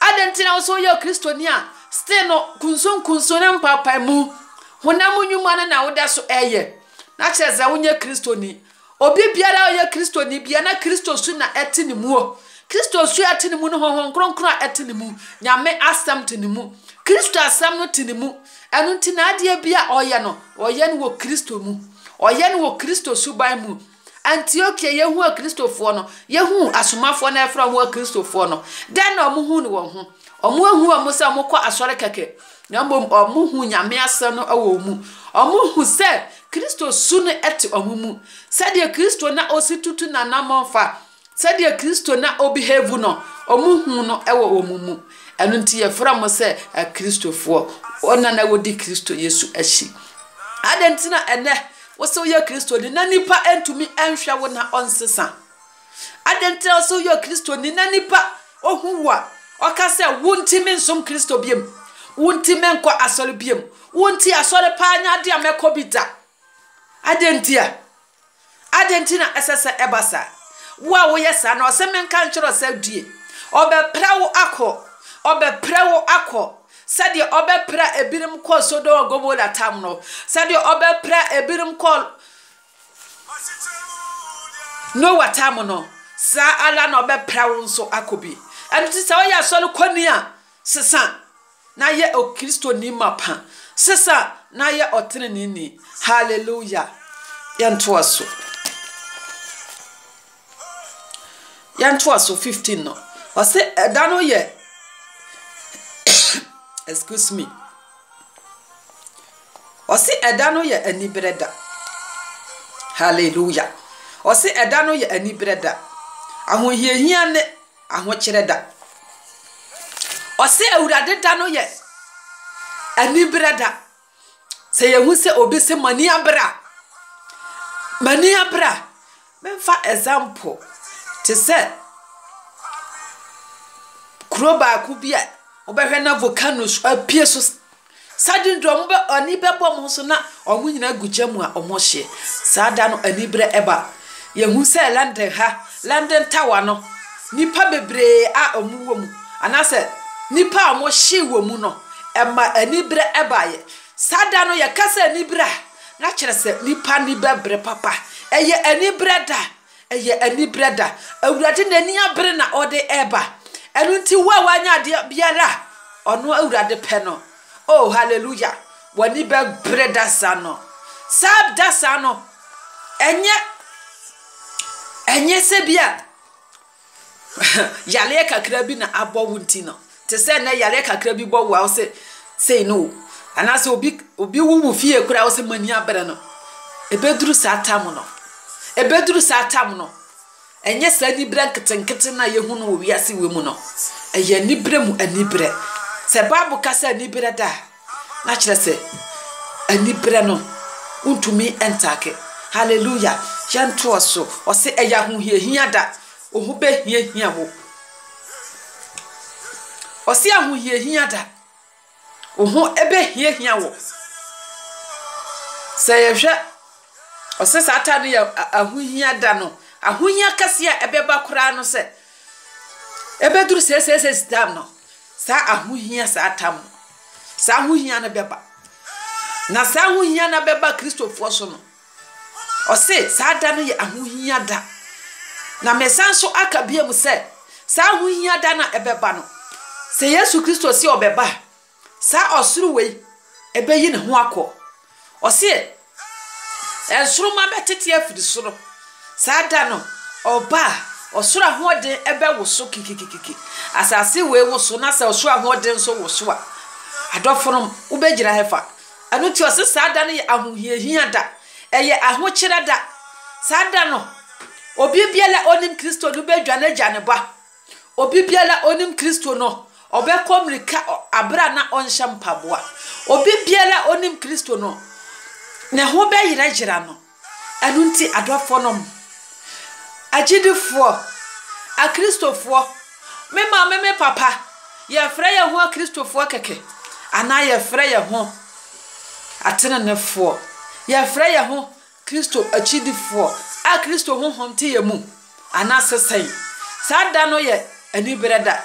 Adɛn nti na ɛwɔ sɛ woyɛ Kristoni a still no kunsunkunsun ne mpaapaemu, honam nnwuma no na woda so ɛyɛ? Na kyerɛ sɛ wonyɛ Kristoni. Obi biara a ɔyɛ Kristoni bia na Kristo su na ɛte ne mu o. Kristo su a ɛte ne mu no, Honhom Kronkron a ɛte ne mu, Nyame asɛm te ne mu, Kristo asɛm no te ne mu. Ɛno nti na adeɛ biara a ɔyɛ no, ɔyɛ no wɔ Kristo mu. Ɔyɛ no wɔ Kristo suban mu. Antiokia, yɛhuu Akristofoɔ no. Yɛhuu asomafoɔ no a yɛfrɛ wɔn Akristofoɔ no. Dɛn na wɔhuu no wɔn ho? Wɔanhu wɔn sɛ wɔkɔ asɔre kɛkɛ, na mmom wɔhuu Nyame Asɛm no wɔ wɔn mu. Wɔhuu sɛ Kristo su no te wɔn mu. Sɛdeɛ Kristo na ɔsi tutu n'anammɔn fa Sɛdeɛ Kristo na ɔbehave no, wɔhunu no wɔ wɔn mu. Ɛno nti yɛfrɛ wɔn sɛ Akristofoɔ, wɔn a na wɔdi Kristo Yesu akyi. Adɛn nti na ɛnnɛ wo sɛ woyɛ Kristoni na nnipa ntumi nhwɛ wo na ɔnsesa? Adɛn nti na wo sɛ woyɛ Kristoni na nnipa ɔhu wo a, ɔka sɛ wontumi nsom Kristo biom, wontumi nkɔ asɔre biom, wonti asɔre paa nyɛ adeɛ a mɛkɔ bi da? Adɛn nti a? Adɛn nti na ɛsɛ sɛ ɛba saa? Wo a woyɛ saa no, ɔse menka nkyerɛ wo sɛ due. Ɔbɛpra wo akɔ, ɔbɛpra wo akɔ, sɛdeɛ ɔbɛpra ebinom kɔɔ Sodom and Gomorrah tam no, sɛdeɛ ɔbɛpra ebinom kɔɔ Noah tam no, saa ara na ɔbɛpra wo nso akɔ bi. Ɛno nti sɛ woyɛ asɔre kɔni a, sesa Na yɛ Okristoni mapa. Sesa na yɛ ɔteneneeni. Hallelujah! Yɛntoa so. Yɛntoa so, 15 no. Ɔse ɛda no yɛ, excuse me. Ɔse ɛda no yɛ anibere da. Hallelujah! Ɔse ɛda no yɛ anibere da. Ahohiahia ne ahokyerɛ da. Ɔse Awurade da no yɛ anibere da. Sɛ yɛhu sɛ obi se m'ani abere a, m'ani abere a, memfa example te sɛ kuro baako bi a wobɛhwɛ na volcano apue so Saa de no deɛ wɔn bɛ, ani bɛbɔ wɔn so na wɔn nyinaa gu gya mu a wɔrehye. Saa da no aniberɛ ba. Yɛhu sɛ London ha, London Tower no, nnipa bebree a wɔwɔ mu anaasɛ nnipa a wɔhyee wɔ mu no, ɛma aniberɛ baeɛ. Saa da no yɛka sɛ aniberɛ a, na kyerɛ sɛ nnipa ani bɛbere papa. Ɛyɛ aniberɛ da. Ɛyɛ anibere da. Awurade n'ani abere na ɔde reba. Ɛno nti wo a woanyɛ adeɛ biara a Ɔno Awurade pɛ no, oh, hallelujah, w'ani bɛbere da saa no. Saa da saa no, ɛnyɛ, ɛnyɛ sɛ bi a. Yareɛ kakra bi na abɔ wo nti no, te sɛ nnɛ yareɛ kakra bi bɔ wo a wo se sei ne wo. Anaasɛ obi obi wu wo fie koraa a wo se mo ani abere no. Ɛbɛduru saa tam no, ɛbɛduru saa tam no. Ɛnyɛ saa aniberɛ nketenkete no a yɛhu no wɔ wiase wei mu no. Ɛyɛ aniberɛ mu aniberɛ. Sɛ Bible ka sɛ aniberɛ da a. Na kyerɛ sɛ, aniberɛ no, wontumi ntaake. Hallelujah! Yɛntoa so. Ɔse, ɛyɛ ahohiahia da. Woho bɛhiahia wo. Ɔse, ahohiahia da. Woho bɛhiahia wo. Sɛ yɛhwɛ, ɔse saa time no yɛ ahohia da no. Ahohia kɛseɛ a ɛbɛba koraa no sɛ, ɛbɛduru seeseesei time no, Saa ahohia, saa tam no, saa ahohia no bɛba. Na saa ahohia no bɛba Kristofoɔ so no, ɔse saa da no yɛ ahohia da. Na mesan so aka biom sɛ, saa ahohia da no a ɛbɛba no, sɛ Yesu Kristo se ɔbɛba a, saa ɔsoro wei ɛbɛyi ne ho akɔ. Ɔseɛ, Nsoromma bɛtete afiri soro, saa da no ɔba a, ɔsoro ahoɔden bɛwoso kikikikiki, asase wei woso, na sɛ ɔsoro ahoɔden nso woso a, adɔfonom, wobɛgyina hefa? Ɛno nti ɔse saa da no yɛ ahohiahia da, ɛyɛ ahokyerɛ da, saa da no obibiara a ɔnim Kristo no bɛdwane agya ne ba. Obi biara a ɔnim Kristo no, ɔbɛkɔ mmirika bere a na ɔnhyɛ mpaboa. Obi biara a ɔnim Kristo no, ne ho bɛyerayera no. Ɛno nti, adɔfonom, agyidifoɔ, Akristofoɔ, me maame, me papa, yɛfrɛ yɛn ho Akristofoɔ kɛkɛ, anaa yɛfrɛ yɛn ho atenenefoɔ, yɛfrɛ yɛn ho Kristo akyidifoɔ a Kristo Honhom te yɛn mu anaasɛ sɛn? Saa da no yɛ aniberɛ da.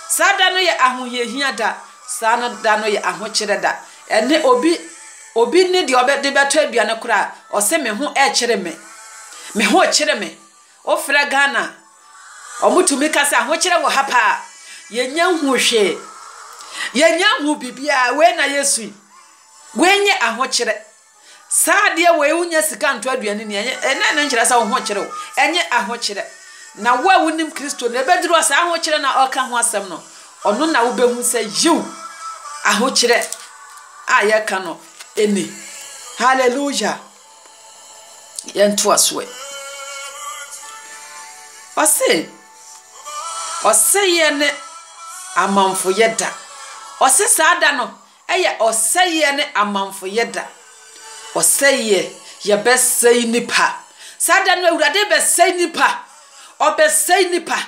Saa da no yɛ ahohiahia da. Saa no da no yɛ ahokyerɛ da. Ɛnnɛ obi obi ne deɛ ɔbɛ de bɛtɔ aduane koraa ɔse me ho ɛrekyere me. Me ho rekyere me. Wofrɛ Ghana a, wɔtumi ka sɛ ahokyerɛ wɔ ha paa. Yɛnnya nhuu hwee. Yɛnnya nhuu biribiara. Wei na yɛsu yi. Wei nyɛ ahokyerɛ. Saa adeɛ wei wonya sika nto aduane ni ɛnyɛ ɛnɛ ne nkyerɛ sɛ wo ho kyerɛ o ɛnyɛ ahokyerɛ na wo a wonim kristo no ɛbɛduru a saa ahokyerɛ na ɔka ho asɛm no ɔno na wobɛhu sɛ yiw ahokyerɛ a yɛka no ɛni hallelujah yɛntoa so ɛ ɔse ɔsɛeɛ ne amanfoyɛ da ɔse saa da no Ɛyɛ ɔsɛeɛ ne amamfoyɛ da. Ɔsɛeɛ, yɛbɛsɛe nnipa. Saa da no Awurade rebɛsɛe nnipa. Ɔrebɛsɛe nnipa.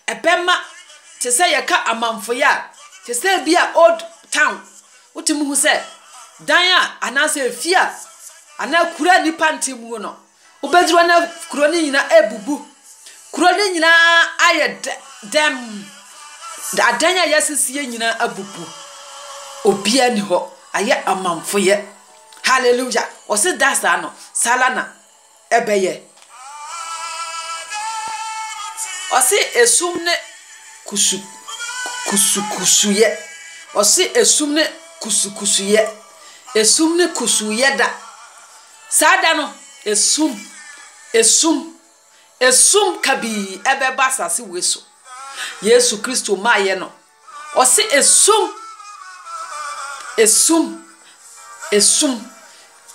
Ɛbɛma te sɛ yɛka amamfoyɛ a, te sɛ ebi a old town, wotumi hu sɛ dan a anaasɛ efie a anaa kuro a nnipa nte mu no, Wobɛduru na kuro no nyinaa abubu. Kuro no nyinaa ayɛ dɛm. Adan a yɛasisieɛ nyinaa abubu. Obiara nni hɔ. Ayɛ amamfoyɛ. Hallelujah! Wɔse da saa no, saa ara na ɛbɛyɛ. Wɔse esum ne kusu, kusukusuyɛ. Wɔse esum ne kusukusuyɛ. Esum ne kusuuyɛ da. Saa da no, esum, esum, esum kabii ɛbɛba asase wei so. Yesu Kristo maayɛ no, ɔse esum, esum, esum.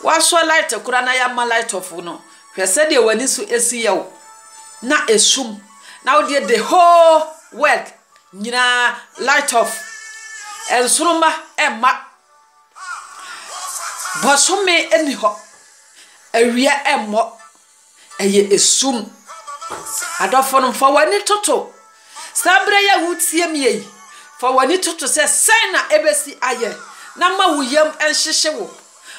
Woasɔ light koraa na yɛamma light off no, hwɛ sɛdeɛ w'ani so si yɛ wo. Na esum, na wodeɛ the whole world nyinaa light off. Nsoromma ɛmma. Bosome nni hɔ, awia mmɔ, ɛyɛ esum. Adɔfo no, fa w'ani toto saa bere yi a wotie me yi. Fa w'ani toto sɛ sɛn na ebesi ayɛ, na ma wo yam nhyehye wo.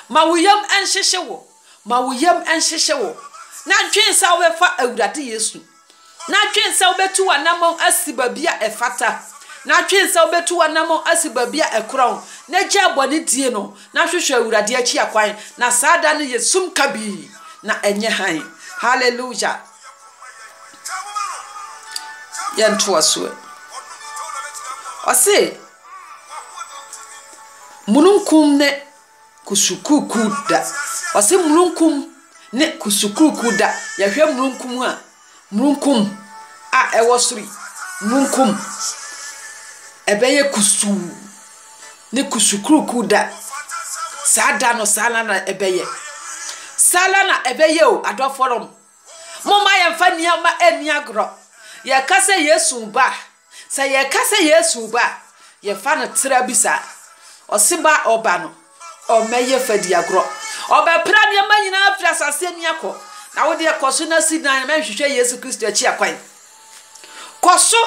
Ma wo yam nhyehye wo. Ma wo yam nhyehye wo, na dwen sɛ wobɛfa Awurade Yesu, na dwen sɛ wobɛtu w'anammɔn asi baabi a ɛfata, na dwen sɛ wobɛtu w'anammɔn asi baabi a ɛkorɔn, na gyaa bɔne die no, na hwehwɛ Awurade akyi akwan, na saa da no yɛ sum kabii, na ɛnyɛ hann. Hallelujah! Yɛntoa so ɛ. Ɔse, mununkum ne Kusukurukuu da. Ɔse mununkum ne kusukurukuu da. Yɛhwɛ mununkum a, mununkum a ɛwɔ soro yi, mununkum, ɛbɛyɛ kusuu. Ne kusukurukuu da. Saa da no, saa ara na ɛbɛyɛ. Saa ara na ɛbɛyɛ o, adɔfonom. Momma yɛmfa nneɛma nni agorɔ. Yɛka sɛ Yesu reba a, sɛ yɛka sɛ Yesu reba a, yɛfa no tra bi saa. Ɔse ba a ɔba no, ɔmmɛyɛ fadiagorɔ. Ɔbɛpra nneɛma nyinaa afiri asase ani akɔ. Na wo deɛ kɔ so na si dan, na hwehwɛ Yesu Kristo akyi akwan. Kɔ so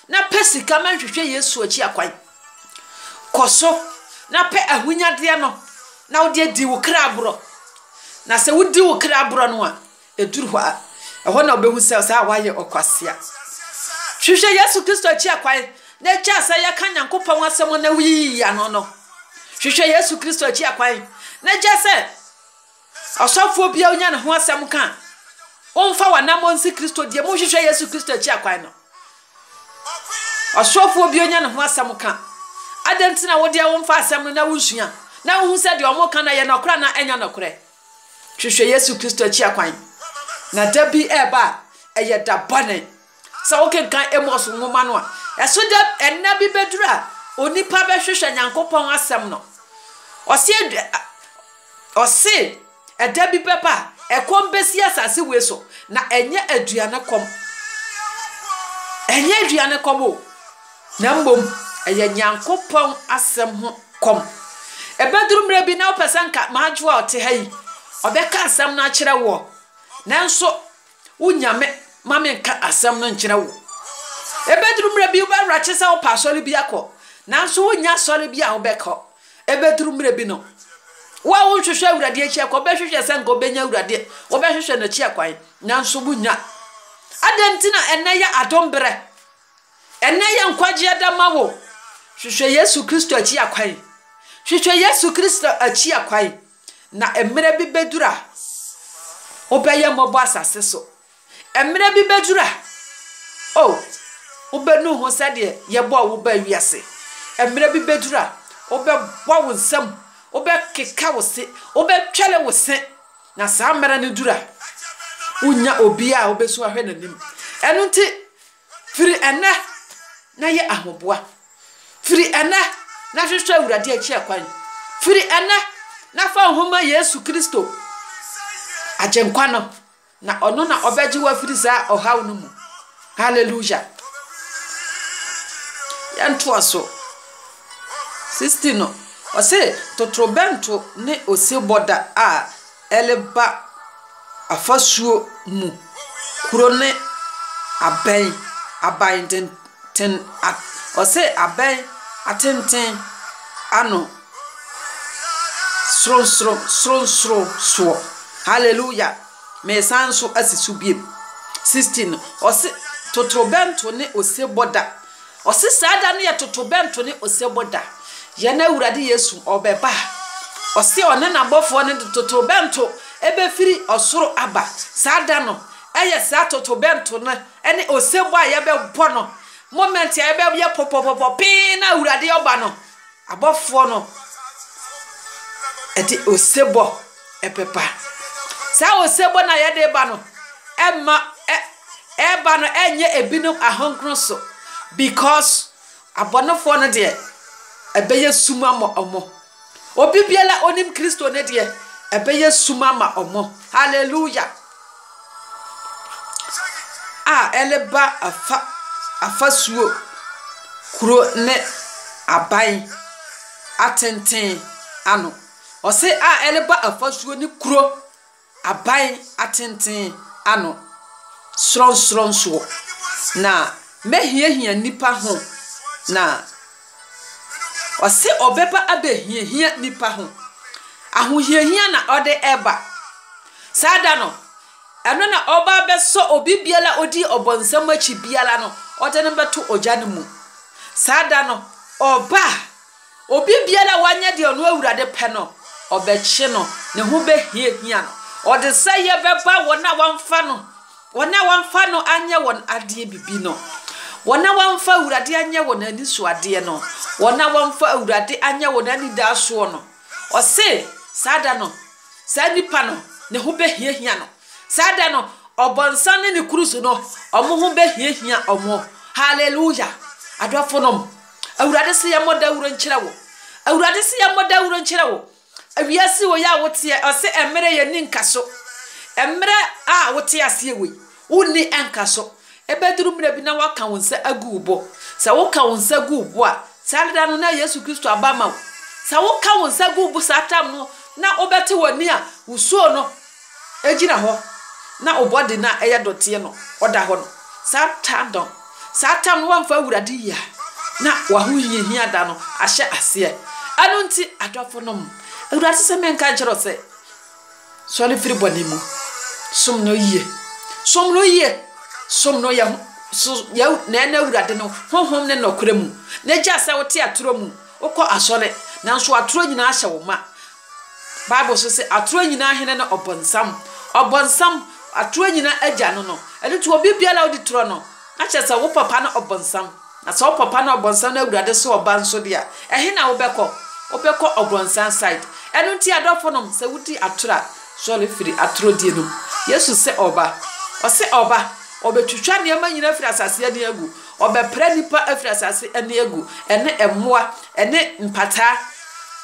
na pɛ sika ma nhwehwɛ Yesu akyi akwan. Kɔ so na pɛ ahonyadeɛ no na wode adi wo kra aborɔ. Na sɛ wodi wo kra aborɔ no a, ɛduru hɔ a, ɛhɔ na wobɛhu sɛ saa a woayɛ ɔkwasea. Hwehwɛ Yesu Kristo akyi akwan na gyaa sɛ yɛka Nyankopɔn asɛm na woyiyi ano no. Hwehwɛ Yesu Kristo akyi akwan na gyaa sɛ Ɔsɔfoɔ biara wonya ne ho asɛm ka a, womfa w'anammɔn nsi Kristo deɛ mu nhwehwɛ Yesu Kristo akyi akwan no. Ɔsɔfoɔ bi onya ne ho asɛm ka. Adɛn nti na wo deɛ womfa asɛm no na wonsua na wohu sɛ deɛ wɔn ka no ɛyɛ nɔkorɛ anaa ɛnyɛ nɔkorɛ? Hwehwɛ Yesu Kristo akyi akwan. Na da bi ɛreba a, ɛyɛ da bɔne. Sɛ wokenkan Amos nwoma no a, ɛso dɛ nna bi bedur a onipa bɛhwehwɛ Nyankopɔn asɛm no. Ɔse ɔse da bi bɛba a ɛkɔm besi asase wei so, na ɛnyɛ aduane kɔm, ɛnyɛ aduane kɔm o, na mmom ɛyɛ Nyankopɔn asɛm ho kɔm. Ɛbɛdur mmerɛ bi na wopɛ sɛ nka m'adwoa a ɔte ha yi ɔbɛka asɛm no akyerɛ woɔ, nanso wo Nyame ma me nka asɛm no nkyerɛ wo. Ebeduru mmerɛ bi wobɛwerɛkye sɛ wopɛ asɔre bi akɔ, nanso wonnya asɔre bi a wobɛkɔ. Ebeduru mmerɛ bi no, wo a wonhwehwɛ Awurade akyi akwan, wobɛhwehwɛ sɛ nka wobɛnya Awurade, wobɛhwehwɛ n'akyi akwan, nanso wonnya. Adɛn nti na ɛnnɛ yɛ adom berɛ? Ɛnnɛ yɛ nkwagyeɛ da ma wo. Hwehwɛ Yesu Kristo akyi akwan. Hwehwɛ Yesu Kristo akyi akwan. Na mmerɛ bi bɛduru a wobɛyɛ mmɔbɔ asase so. Mmerɛ bi bɛduru a, o, wobɛnu ho sɛdeɛ yɛbɔɔ wo baa wiase. Mmerɛ bi bɛduru a, wobɛbɔ wo nsam, wobɛkeka wo se, wobɛtwɛre wo se. Na saa mmerɛ no duru a, wonnya obiara a wobɛsu ahwɛ n'anim. Ɛno nti, Firi ɛnnɛ na yɛ ahoboa. Firi ɛnnɛ na hwehwɛ Awurade akyi ɛkwan. Firi ɛnnɛ na fa wo ho ma Yesu Kristo, Agyenkwa no, na Ɔno na Ɔbɛgye wo afiri saa ɔhaw no mu. Hallelujah! Yɛntoa so. 16 no, ɔse, Totorobɛnto ne osebɔ da a. ɛreba afasuo mu. Kuro no abɛn, aban tenten a wɔse abɛn atenten ano sorosoro sorosoro soɔ. Hallelujah! Meresan nso asi so bio. 16, wɔse totorobɛnto ne osebɔ da. Ɔse saa da no yɛ totobɛnto ne osebɔ da. Yɛn Awurade Yesu ɔbɛba a, ɔse ɔne n'abɔfoɔ no de totobɛnto bɛfiri ɔsoro aba. Saa da no yɛ saa totobɛnto no ne osebɔ a yɛbɛbɔ no moment a yɛbɛyɛ pɔpɔpɔpɔ pee na Awurade ɔba no. Abɔfoɔ no de osebɔ bɛba. Saa osebɔ no a yɛde reba no mma ɛ ɛreba no nyɛ ebinom ahonkoro so because abɔnefoɔ no deɛ ɛbɛyɛ sum ama wɔn. Obi biara a ɔnim Kristo no deɛ ɛbɛyɛ sum ama wɔn. Hallelujah. a ɛreba afa afasuo kuro ne aban atenten ano. Ɔse a ɛreba afasuo ne kuro aban atenten ano sorɔnsorɔnsoɔ. Na mɛhiahia nnipa ho na. Ɔse ɔbɛba abɛhiahia nnipa ho. Ahohiahia na ɔde ba. Saa da no, ɛno na ɔba abɛsɔ obi biara a ɔdi ɔbɔnsam akyi biara no, ɔde no bɛto ogya no mu. Saa da no, ɔba a, obi biara a wanyɛ deɛ ɔno Awurade pɛ no, ɔbɛkye no, ne ho bɛhiahia no. Ɔdesɛeɛ bɛba wɔn a wɔamfa no Wɔn a wɔamfa no anyɛ wɔn adeɛ bibi no, wɔn a wɔamfa Awurade anyɛ wɔn anisoadeɛ no, wɔn a wɔamfa Awurade anyɛ wɔn anidaasoɔ no, ɔse, saa da no, saa nipa no, ne ho bɛhiahia no. Saa da no, ɔbɔnsam ne ne kuruso no, wɔn ho bɛhiahia wɔn. Hallelujah! Adɔfonom, Awurade se yɛmmɔ dawuro nkyerɛ wo. Awurade se yɛmmɔ dawuro nkyerɛ wo. Wiase wei a woteɛ, ɔse ɛmmerɛ yɛ nni nkaso. Ɛmmerɛ a wote aseɛ wei, wo nni nkaso. Ɛbɛduru mmerɛ bi na woaka wo nsa agu wo bo. Sɛ woka wo nsa gu wo bo a, saa da no na Yesu Kristo aba ama wo. Sɛ woka wo nsa gu wo bo saa tam no na wobɛte w'ani a, wo suo no Egyina hɔ na wo body no a ɛyɛ dɔteɛ no ɔda hɔ no saa ta no saa tam no wamfa awurade yie a na wahohiahia da no ahyɛ aseɛ ɛno nti adɔfo nom awurade sɛ menka nkyerɛ sɛ sɔre firi bɔne mu som no yie som no yie som no yɛ so yɛ na ɛna awurade no honhom ne nɔkorɛ mu na gya sɛ wote atorɔ mu wokɔ asɔre nanso atorɔ nyinaa hyɛ wo ma Bible nso se, Atoro nyinaa hene ne Ɔbonsam. Ɔbonsam, atoro nyinaa agya no no. Ɛno nti, obi biara a odi toro no, na kyerɛ sɛ wo papa ne Ɔbonsam. Na sɛ wo papa ne Ɔbonsam na Awurade so ɔba nso de a, ɛhe na wobɛkɔ? Wobɛkɔ Ɔbonsam side. Ɛno nti, adɔfonom, sɛ wodi atoro a, sɔre firi atorodie no mu. Yesu se ɔreba. Ɔse ɔreba. Ɔbɛtwitwa nneɛma nyinaa afiri asase ani agu. Ɔbɛpra nnipa afiri asase ani agu, ɛne mmoa, ɛne mpataa.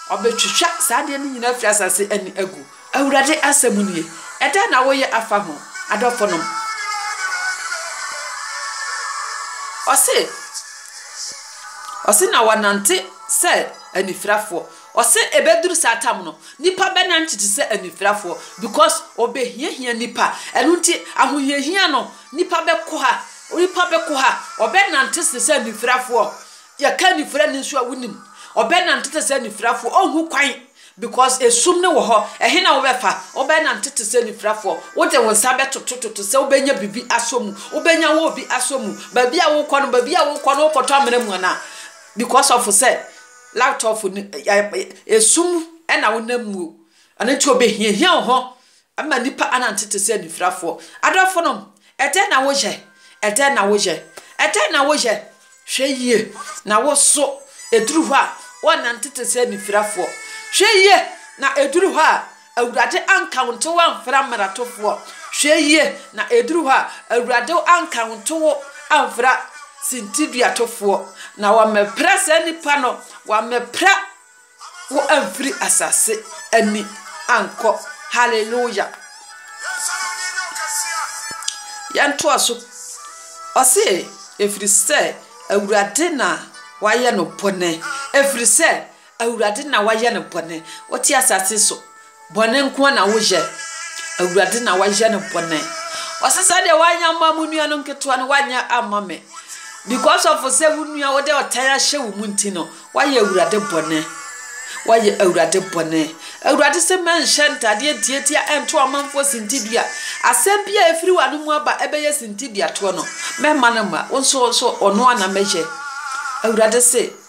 Ɔbɛtwitwa saa adeɛ no nyinaa afiri asase ani agu. Awurade asɛm nie. Ɛdɛn na woyɛ afa ho, adɔfonom? Ɔse, ɔse na wɔnante sɛ anifirafoɔ. Ɔse ɛbɛduru saa tam no, nnipa bɛnante te sɛ anifirafoɔ because wɔbɛhiahia nnipa. Ɛno nti ahohiahia no, Nnipa bɛko ha, onipa bɛko ha, ɔbɛnante te sɛ anifirafoɔ. Yɛka anifirani nso a, wonim. Ɔbɛnante te sɛ anifirafoɔ, ɔnhu kwan, because esum no wɔ hɔ. Ɛhe na wobɛfa? Wobɛnante te sɛ anifirafoɔ. Wode wo nsa bɛtotototo sɛ wobɛnya biribi asɔ mu, wobɛnya wo obi asɔ mu. Baabi a wokɔ no, baabi a wokɔ no, wokɔtɔ amena mu anaa? Because of sɛ light off no, esum na wonam mu o. Ɛno nti obehiahia wo ho Mma nnipa annante te sɛ anifirafoɔ. Adɔfonom, ɛdɛn na woyɛ? Ɛdɛn na woyɛ? Ɛdɛn na woyɛ? Hwɛ yie na wo nso ɛduru hɔ a woannante te sɛ anifirafoɔ. Hwɛ yie na ɛduru hɔ a Awurade anka wo nto woamfra mmaratofoɔ. Hwɛ yie na ɛduru hɔ a Awurade anka wo nto wo amfra sintiduatofoɔ. Na wɔammɛpra saa nnipa no, wɔammɛpra. Wo amfiri asase ani ankɔ hallelujah yɛn toa so ɔse ɛfiri sɛ awurade na wayɛ no bɔne ɛfiri sɛ awurade na wayɛ no bɔne wote asase so Bɔne nko ara na woyɛ. Awurade na woayɛ no bɔne. Ɔse sɛdeɛ woanyɛ amma mo nua no nketewa no, woanyɛ amma me. Because of sɛ wo nua wode ɔtan ahyɛ wo mu nti no, woayɛ Awurade bɔne. Woayɛ Awurade bɔne. Awurade se mɛnhyɛ ntadeɛ ntiatia nto ɔmanfoɔ sintidua. Asɛm bi a ɛfiri w'ano mu aba ɛbɛyɛ sintiduatoɔ no, mɛma no mma wo nso, wo nso ɔno ara na mɛyɛ. Awurade se.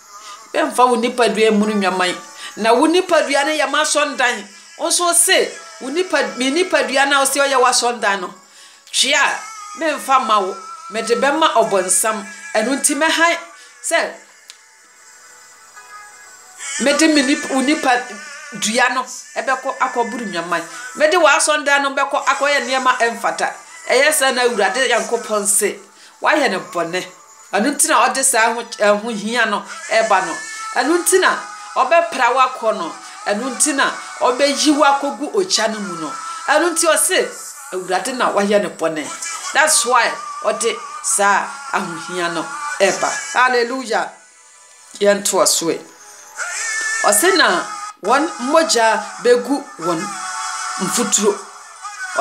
Mfa wo nipadua mmunu nnwaman, na wo nipadua no yɛ m'asɔredan. Wo nso wo se, wo nipa, me nipadua no a wose ɔyɛ w'asɔredan no, twe a, meremfa mma wo. Mede bɛma Ɔbonsam. Ɛno nti mɛhan sɛ mede me nip, wo nipadua no bɛkɔ akɔboro nnwaman. Mede w'asɔredan no bɛkɔ akɔyɛ nneɛma a ɛmfata. Ɛyɛ saa na Awurade Nyankopɔn se. Woayɛ no bɔne. Ɛno nti na ɔde saa ɛho ɛho hia no ɛba no. Ɛno nti na ɔbɛpra wo akɔ no. Ɛno nti na ɔbɛyi wo akɔgu ogya no mu no. Ɛno nti ɔse Awurade na wayɛ no bɔne. That's why ɔde saa ahohia no ɛba. Hallelujah! Yɛntoa so ɛ. Ɔse na wɔn mogya bɛgu wɔn mfuturo.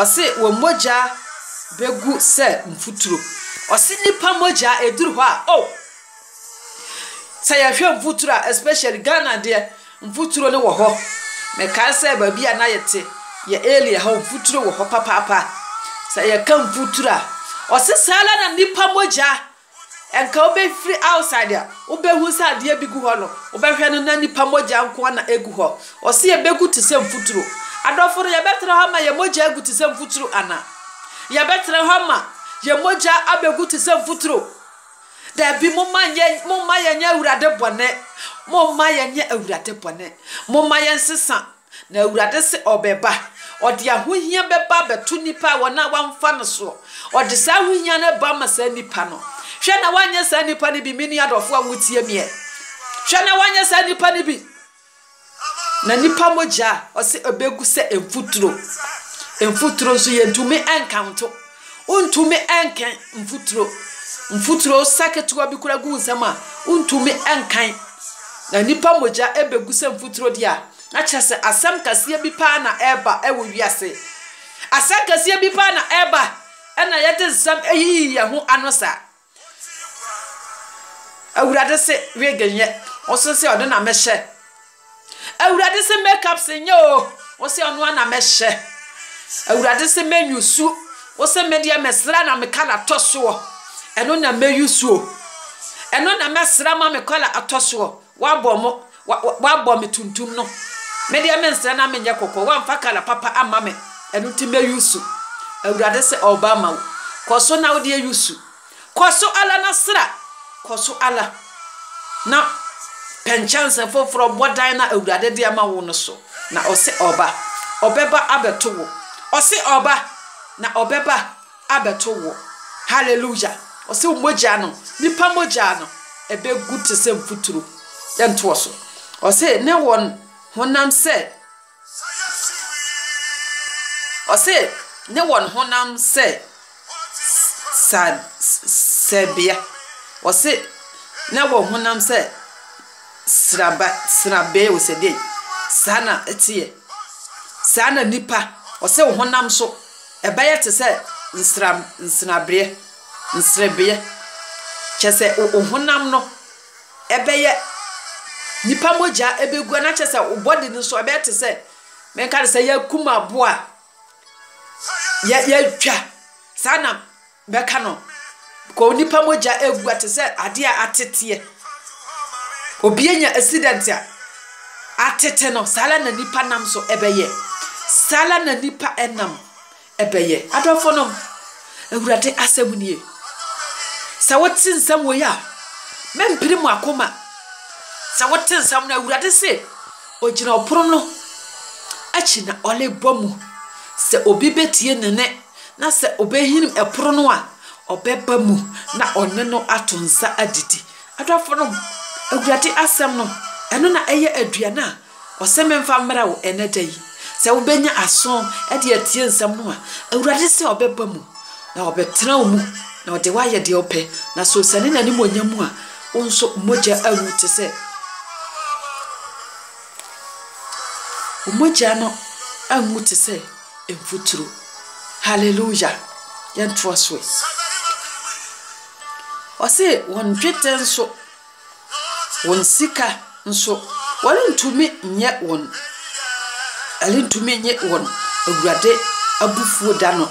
Ɔse wɔn mogya bɛgu sɛ mfuturo. Ɔse nnipa mogya ɛduru hɔ a oh! Sɛ yɛhwɛ mfuturo a especially Ghana deɛ mfuturo no wɔ hɔ. Mekae sɛ baabi a na yɛte yɛ area hɔ mfuturo wɔ hɔ papaapa. Sɛ yɛka mfuturo a ɔse saa ara na nnipa mogya Nka wobefiri outside a wobehu sɛ adeɛ bi gu hɔ no wobɛhwɛ no na nipa mogya nkoa na egu hɔ. Ɔse yɛbegu te sɛ mfuturo. Adɔfo no yɛbɛtra hɔ ama yɛn mogya agu te sɛ mfuturo ana? Yɛbɛtra hɔ ama yɛn mogya abegu te sɛ mfuturo? Dabi momma nyɛ momma yɛnyɛ Awurade bɔne. Momma yɛnyɛ Awurade bɔne. Momma yɛnsesa Na Awurade se ɔbɛba, ɔde ahohia bɛba abɛto nnipa a wɔn a wɔamfa no soɔ, ɔde saa ahohia no ba ama saa nnipa no. Hwɛ na woanyɛ saa nnipa no bi, me nua dɔfoɔ a wotie meɛ, hwɛ na woanyɛ saa nnipa no bi. Na nnipa mogya a ɔse ɛbɛgu sɛ mfuturo, mfuturo nso yɛntumi nkanto. Wontumi nkan mfuturo. Mfuturo sa ketewa bi koraa gu wo nsam a, wontumi nkan. Na nnipa mogya bɛgu sɛ mfuturo deɛ a, na kyerɛ sɛ asɛm kɛseɛ bi paa na ɛreba wɔ wiase. Asɛm kɛseɛ bi paa na ɛreba, ɛna yɛde nsɛm yiyii yɛn ho ano saa. Awurade se wig nyɛ. Ɔso se ɔno na mɛhyɛ. Awurade se makeup se nyɛ o. Ɔse ɔno ara na mɛhyɛ. Awurade se mɛnyusu. Ɔse me deɛ mesra na me kala tɔ soɔ. Ɛno na mɛyusu o. Ɛno na mɛsra ma me kala atɔ soɔ. Woabɔ mo, wa, wa, woabɔ me tuntum no. Me deɛ mensrɛ na menyɛ kɔkɔɔ. Woamfa kala papa amma me, ɛno nti mɛyusu. Awurade se ɔreba ama wo. Kɔ so na wode ayusu. Kɔ so ara na sra. Kɔ so ara na pɛ nkyɛnse foforɔ bɔ dan no a Awurade de ama wo no so. Na ɔse ɔreba. Ɔbɛba abɛto wo. Ɔse ɔreba. Na ɔbɛba. abɛto woɔ. Hallelujah! Ɔse wo mogya no, nipa mogya no, ɛbɛgu te sɛ mfuturo. Yɛntoɔ so. Ɔse ne wɔn honam sɛ, ɔse ne wɔn honam sɛ sa, sɛbea. Ɔse ne wɔn honam sɛ sraba, srabea o sɛdeɛ. Saa na ɛteɛ. Saa na nipa, ɔse wo honam so. Ɛbɛyɛ te sɛ nsram nsrabeɛ, nsrebeɛ, kyerɛ sɛ wo wo honam no ɛbɛyɛ, nipa mogya ɛbɛgu na kyerɛ sɛ wo body no nso ɛbɛyɛ te sɛ, menka no sɛ yɛakum aboa a yɛ yɛatwa saa na. bɛka no kɔ onipa mogya egu a te sɛ adeɛ a ateteɛ obi anya accident a atete no saa ara na nipa nam so ɛbɛyɛ saa ara na nipa ɛnam ɛbɛyɛ adɔfo nom awurade asɛm nie sɛ wote nsɛm wɔ yi a mɛmpiri mu akoma sɛ wote nsɛm no awurade se ogyina ɔpono no akyi na ɔrebɔ mu sɛ obi bɛtie ne ne Na sɛ ɔbɛhini ɛpono no a, ɔbɛba mu na ɔne no ato nsa adidi. Adɔfonom, Awurade asɛm no, ɛno na ɛyɛ aduane a ɔse memfa mmra wo ɛnɛ da yi. Sɛ wobɛnya aso de atie nsɛm no a, Awurade se ɔbɛba mu na ɔbɛtena wo mu na ɔde wo ayɛ deɛ ɔpɛ. Na sɛ ɔsiane n'animuonyam mu a, wo nso wo mogya awu te sɛ wo mogya no anwu te sɛ. mfuturo. Hallelujah! Yɛntoa so ɛ. Ɔse wɔn dwetɛ nso, wɔn sika nso, wɔrentumi nyɛ wɔn, ɛrentumi nye wɔn Awurade abufuo da no.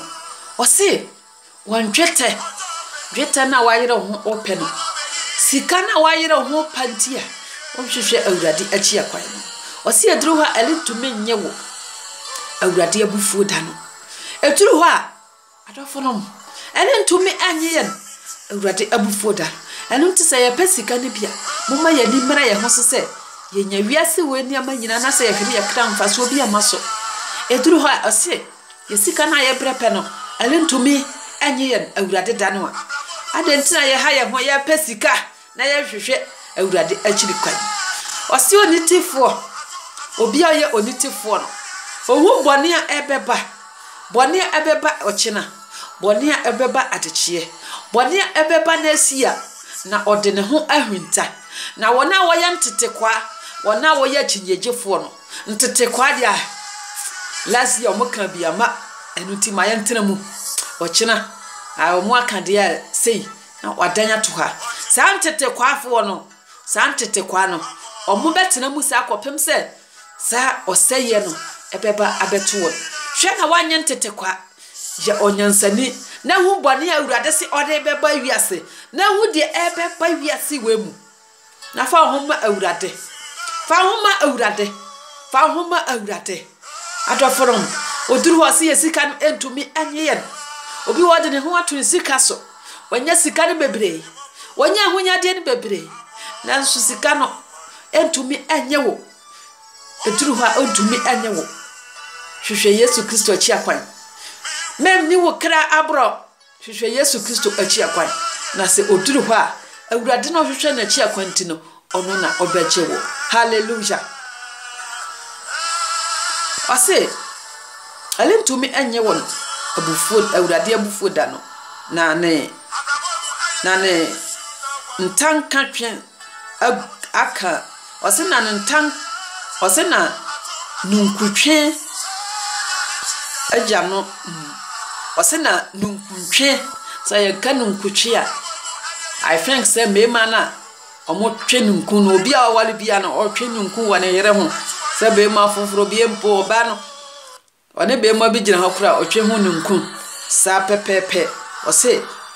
Ɔse Wɔn dwetɛ, dwetɛ no a woayere wo ho repɛ no, sika no a woayere wo ho repa nti a wonhwehwɛ Awurade akyi akwan no. Ɔse ɛduru hɔ a ɛrentumi nnye wo, Awurade abufuo da no. Ɛduru hɔ a, adɔfo nom, ɛrentumi nnye yɛn, Awurade abufuo da no. Ɛno nti sɛ yɛpɛ sika no bi a, momma yɛn ani mmra yɛn ho so sɛ yɛnya wiase wei nneɛma nyinaa na sɛ yɛhwɛ no yɛkra mfasoɔ bi amma so. Ɛduru hɔ a ɔse Yɛ sika no a yɛbrɛ pɛ no, ɛrentumi nnye yɛn Awurade da no a, adɛn nti na yɛha yɛn ho, yɛpɛ sika na yɛnhwehwɛ Awurade akyiri kwan? Ɔse onitefoɔ, obi a ɔyɛ onitefoɔ no, ɔhu bɔne a ɛbɛba, bɔne a ɛbɛba ɔkyena, bɔne a ɛbɛba adekyeɛ, bɔne a ɛbɛba n'asi a, na ɔde ne ho ahwinta. Na wɔn a wɔyɛ ntetekwaa, wɔn a wɔyɛ akyinnyegyefoɔ no, Ntete kwaa deɛ ah Last year ɔmo kaa bi ama ɛno nti ma yɛn tena mu Ɔkyena ah ɔmo aka deɛ ah sei na wadan ato hɔ ah Saa ntete kwaa foɔ no Saa ntete kwaa no Ɔmo bɛ tena mu saa kɔpem sɛ saa ɔsɛeɛ no ɛbɛba abɛto wɔn Hwɛ na woanyɛ ntete kwaa Yɛ ɔnyansani na hu bɔne a Awurade se ɔde bɛba wiase na hu deɛ ɛbɛba wiase wei mu. Na fa wo ho ma Awurade. Fa wo ho ma Awurade. Fa wo ho ma Awurade. Adɔfo no, oduru hɔ sɛ yɛ sika no ntumi nye yɛn. Obi wɔ ɔde ne ho ato ne sika so. Wanya sika no bebree. Wanya ahonyadeɛ no bebree. Nanso sika no ntumi nye wo. Eduru hɔ a ɔntumi nye wo. Hwehwɛ Yesu Kristo akyi akwan. Mɛmmi wo kra aborɔ. Hwehwɛ Yesu Kristo akyi akwan, na sɛ oduru hɔ a, Awurade no hwehwɛ n'akyi akwan nti no, ɔno na ɔbɛgye wo. Hallelujah! Ɔse, Ɛrentumi nnye wɔn abufuo, Awurade abufuo da no, na ne, na ne ntanka twe ag aka, ɔse na ne ntan, ɔse na ninkuntwe agya no, ɔse na ninkuntwe, sɛ yɛka ninkutwe a, I think sɛ mmarima no a wɔtwe ninku no, obi a ɔware biara no, ɔtwe ninku wɔ ne yere ho, sɛ barima foforɔ, bie mpo ɔbaa no. Ɔne beemua bi gyina hɔ kora ɔtwe ho ninkun saa pɛpɛɛpɛ. Ɔse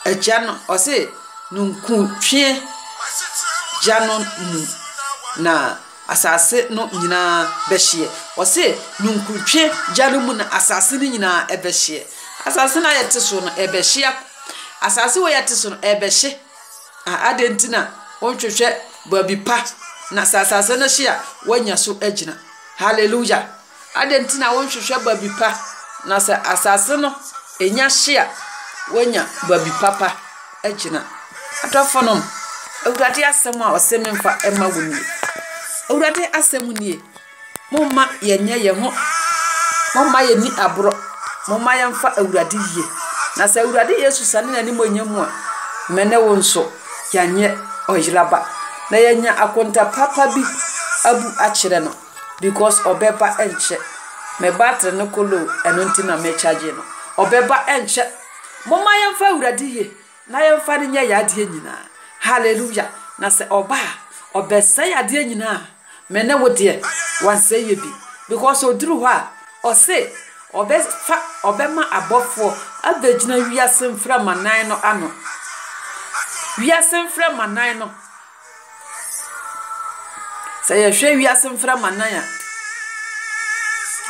agya no, ɔse ninkun twe gya no mu na asase no nyinaa bɛhyeɛ. Ɔse ninkun twe gya no mu na asase no nyinaa ɛbɛhyeɛ. Asase no a yɛte so no ɛbɛhye a, asase wei a yɛte so no ɛbɛhye. Ah adɛn nti na wonhwehwɛ baabi pa na sɛ asase no hye a woanya so agyina. Hallelujah. Adɛn nti na wonhwehwɛ baabi pa? Na sɛ asase no nya hye a, woanya baabi papa agyina. Adɔfonom, Awurade asɛm a ɔse memfa mma wo nie. Awurade asɛm nie, Momma yɛnyɛ yɛn ho, momma yɛnni aborɔ, momma yɛmfa Awurade yie. Na sɛ Awurade Yesu sane n'animuonyam mu a, me ne wo nso, yɛanyɛ ɔyera ba, na yɛanya akonta papa bi abu akyerɛ no. Because ɔbɛba ɛnkyɛ. Me battery no kɔ low ɛno nti na me charge no. Ɔbɛba ɛnkyɛ. Momma yɛmfa Awurade yie na yɛmfa no nyɛ yɛn adeɛ nyinaa. Hallelujah. Na sɛ ɔba a, ɔbɛsɛe adeɛ nyinaa. Me ne wo deɛ, wansɛe yɛ bi. Because ɔduru hɔ a, ɔse ɔbɛfa, ɔbɛma abɔfoɔ abɛgyina wiase mframa nan no ano. Wiase mframa nan no. Sɛ yɛhwɛ wiase mframa nan a,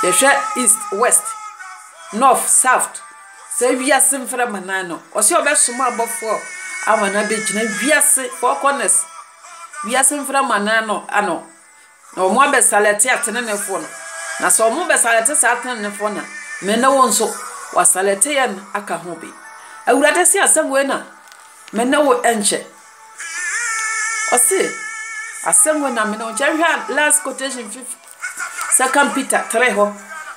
yɛhwɛ east, west, north, south, saa wiase mframa nan no, ɔse ɔbɛsoma abɔfoɔ ama no abɛgyina wiase four corners, wiase mframa nan no ano. Na wɔabɛsalɛte ateneneefoɔ no, na sɛ wɔbɛsalɛte saa ateneneefoɔ no a, me ne wo nso, wɔasalɛte yɛn aka ho bi. Awurade se asɛm wei na me ne wo nkyɛ. Ɔse asɛm wei na me ne wo nkyɛ. Nhwɛ last quotation fif second Peter 3 hɔ,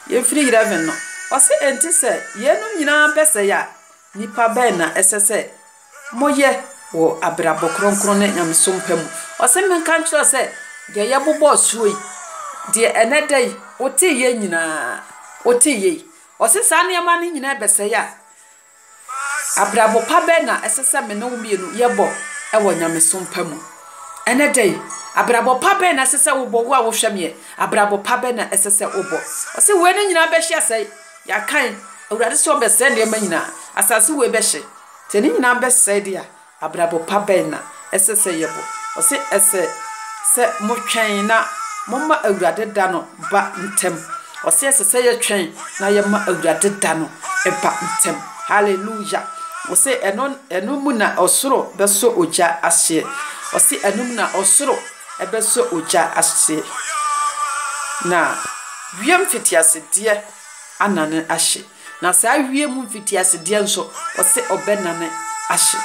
yɛmfiri 11 no. Ɔse enti sɛ yeinom nyinaa bɛsɛe a, nipa bɛn na ɛsɛ sɛ moyɛ wɔ abrabɔ kronkron ne nyamesom pa mu. Ɔse menka nkyerɛ wo sɛ, deɛ yɛbobɔɔ soɔ yi, deɛ ɛnnɛ da yi woteeɛ nyinaa, woteeɛ yi, ɔse saa nneɛma no nyinaa bɛsɛe a, abrabɔ pa bɛn na ɛsɛ sɛ me ne wo mmienu yɛbɔ wɔ nyamesom pa mu? Ɛnnɛ da yi, abrabɔ pa bɛn na ɛsɛ sɛ wobɔ, wo a wohwɛ meɛ, abrabɔ pa bɛn na ɛsɛ sɛ wobɔ? Ɔse wei no nyinaa bɛhye asɛe. Yɛakan, Awurade sɛ ɔbɛsɛe nneɛma nyinaa. Asase wei bɛhye. Sɛ ne nyinaa bɛsɛe de a, abrabɔ pa bɛn na ɛsɛ sɛ yɛbɔ? Ɔse, Ɛsɛ sɛ motwɛn na momma Awurade da no ba ntɛm. Ɔse, Ɛsɛ sɛ yɛtwɛn na yɛma Awurade da no ba ntɛm. Hallelujah! Ɔse, Ɛno mu na ɔsoro bɛsɔ ogya ahyeɛ. Ɔse, Ɛno mu na ɔsoro. Ɛbɛsɔ ogya ahye, na wiem mfitiasedeɛ anane ahye, na saa wiem mfitiasedeɛ nso, ɔse ɔbɛnane ahye.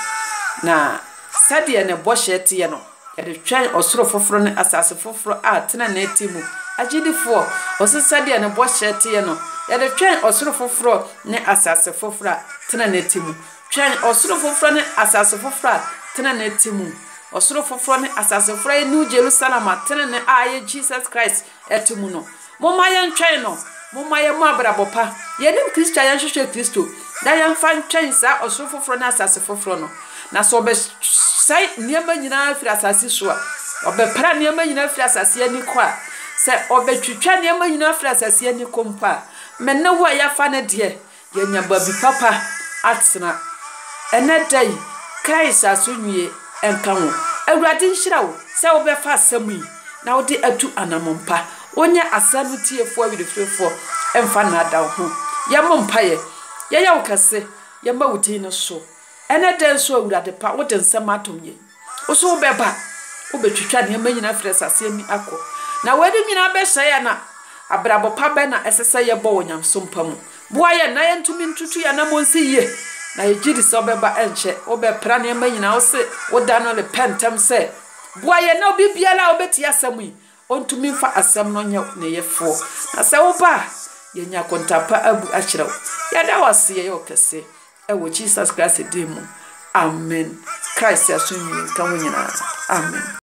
Na sɛdeɛ ne bɔhyɛ teɛ no, yɛde twɛn ɔsoro foforɔ ne asase foforɔ a tenenee te mu. Agyidifoɔ, ɔse sɛdeɛ ne bɔhyɛ teɛ no, yɛde twɛn ɔsoro foforɔ ne asase foforɔ a tenenee te mu. Twɛn ɔsoro foforɔ ne asase foforɔ a tenenee te mu. Ɔsoro foforɔ ne asase foforɔ a ɛyɛ New Jerusalem a tenenee a ɛyɛ Jesus Christ te mu no. Momma yɛntwɛn no. Momma yɛmmɔ abrabɔ pa. Yɛnim Kristo a, yɛnhwehwɛ Kristo, na yɛmfa ntwɛn saa ɔsoro foforɔ ne asase foforɔ no. Na sɛ ɔbɛsɛe nneɛma nyinaa firi asase so a, ɔbɛpra nneɛma nyinaa firi asase ani kɔ a, sɛ ɔbɛtwitwa nneɛma nyinaa firi asase ani kɔ mpo a, me ne wo a yɛafa no deɛ, Yɛanya baabi papa atena. Ɛnnɛ da yi, Christ asonnue nka wo. Awurade nhyira wo sɛ wobɛfa asɛm yi na wode atu anammɔn pa. Wonyɛ asɛm no tiefoɔ werɛfirefoɔ mfa nnaadaa wo ho. Yɛmmɔ mpaeɛ. Yɛyɛ wo kɛse. Yɛma wo din no so. Ɛnɛ da yi so, Awurade pa, wode nsɛm atom yɛn. Wo so wobɛba, wobɛtwitwa nneɛma nyinaa afiri asase ani akɔ, na weinom nyinaa bɛsɛe yɛn a, abrabɔ pa bɛn na ɛsɛ sɛ yɛbɔ wɔ nyamesom pa mu? Boa yɛn na yɛntumi ntutu yɛn anammɔn nsi yie, na yɛgye di sɛ wobɛba ɛnkyɛ, wobɛpra nneɛma nyinaa, wose wo da no repɛ ntɛm sɛ. Boa yɛn na obi biara a ɔbɛtie asɛm yi, Ontumi mfa asɛm no nyɛ ne Yɛfoɔ. Na sɛ woba a, yɛanya akonta pa abu akyerɛ wo. Yɛda wo ase, yɛyɛ wo kɛse. Ɛwɔ Jesus Christ din mu, amen. Christ aso nnwini nka wo nyinaa. Amen.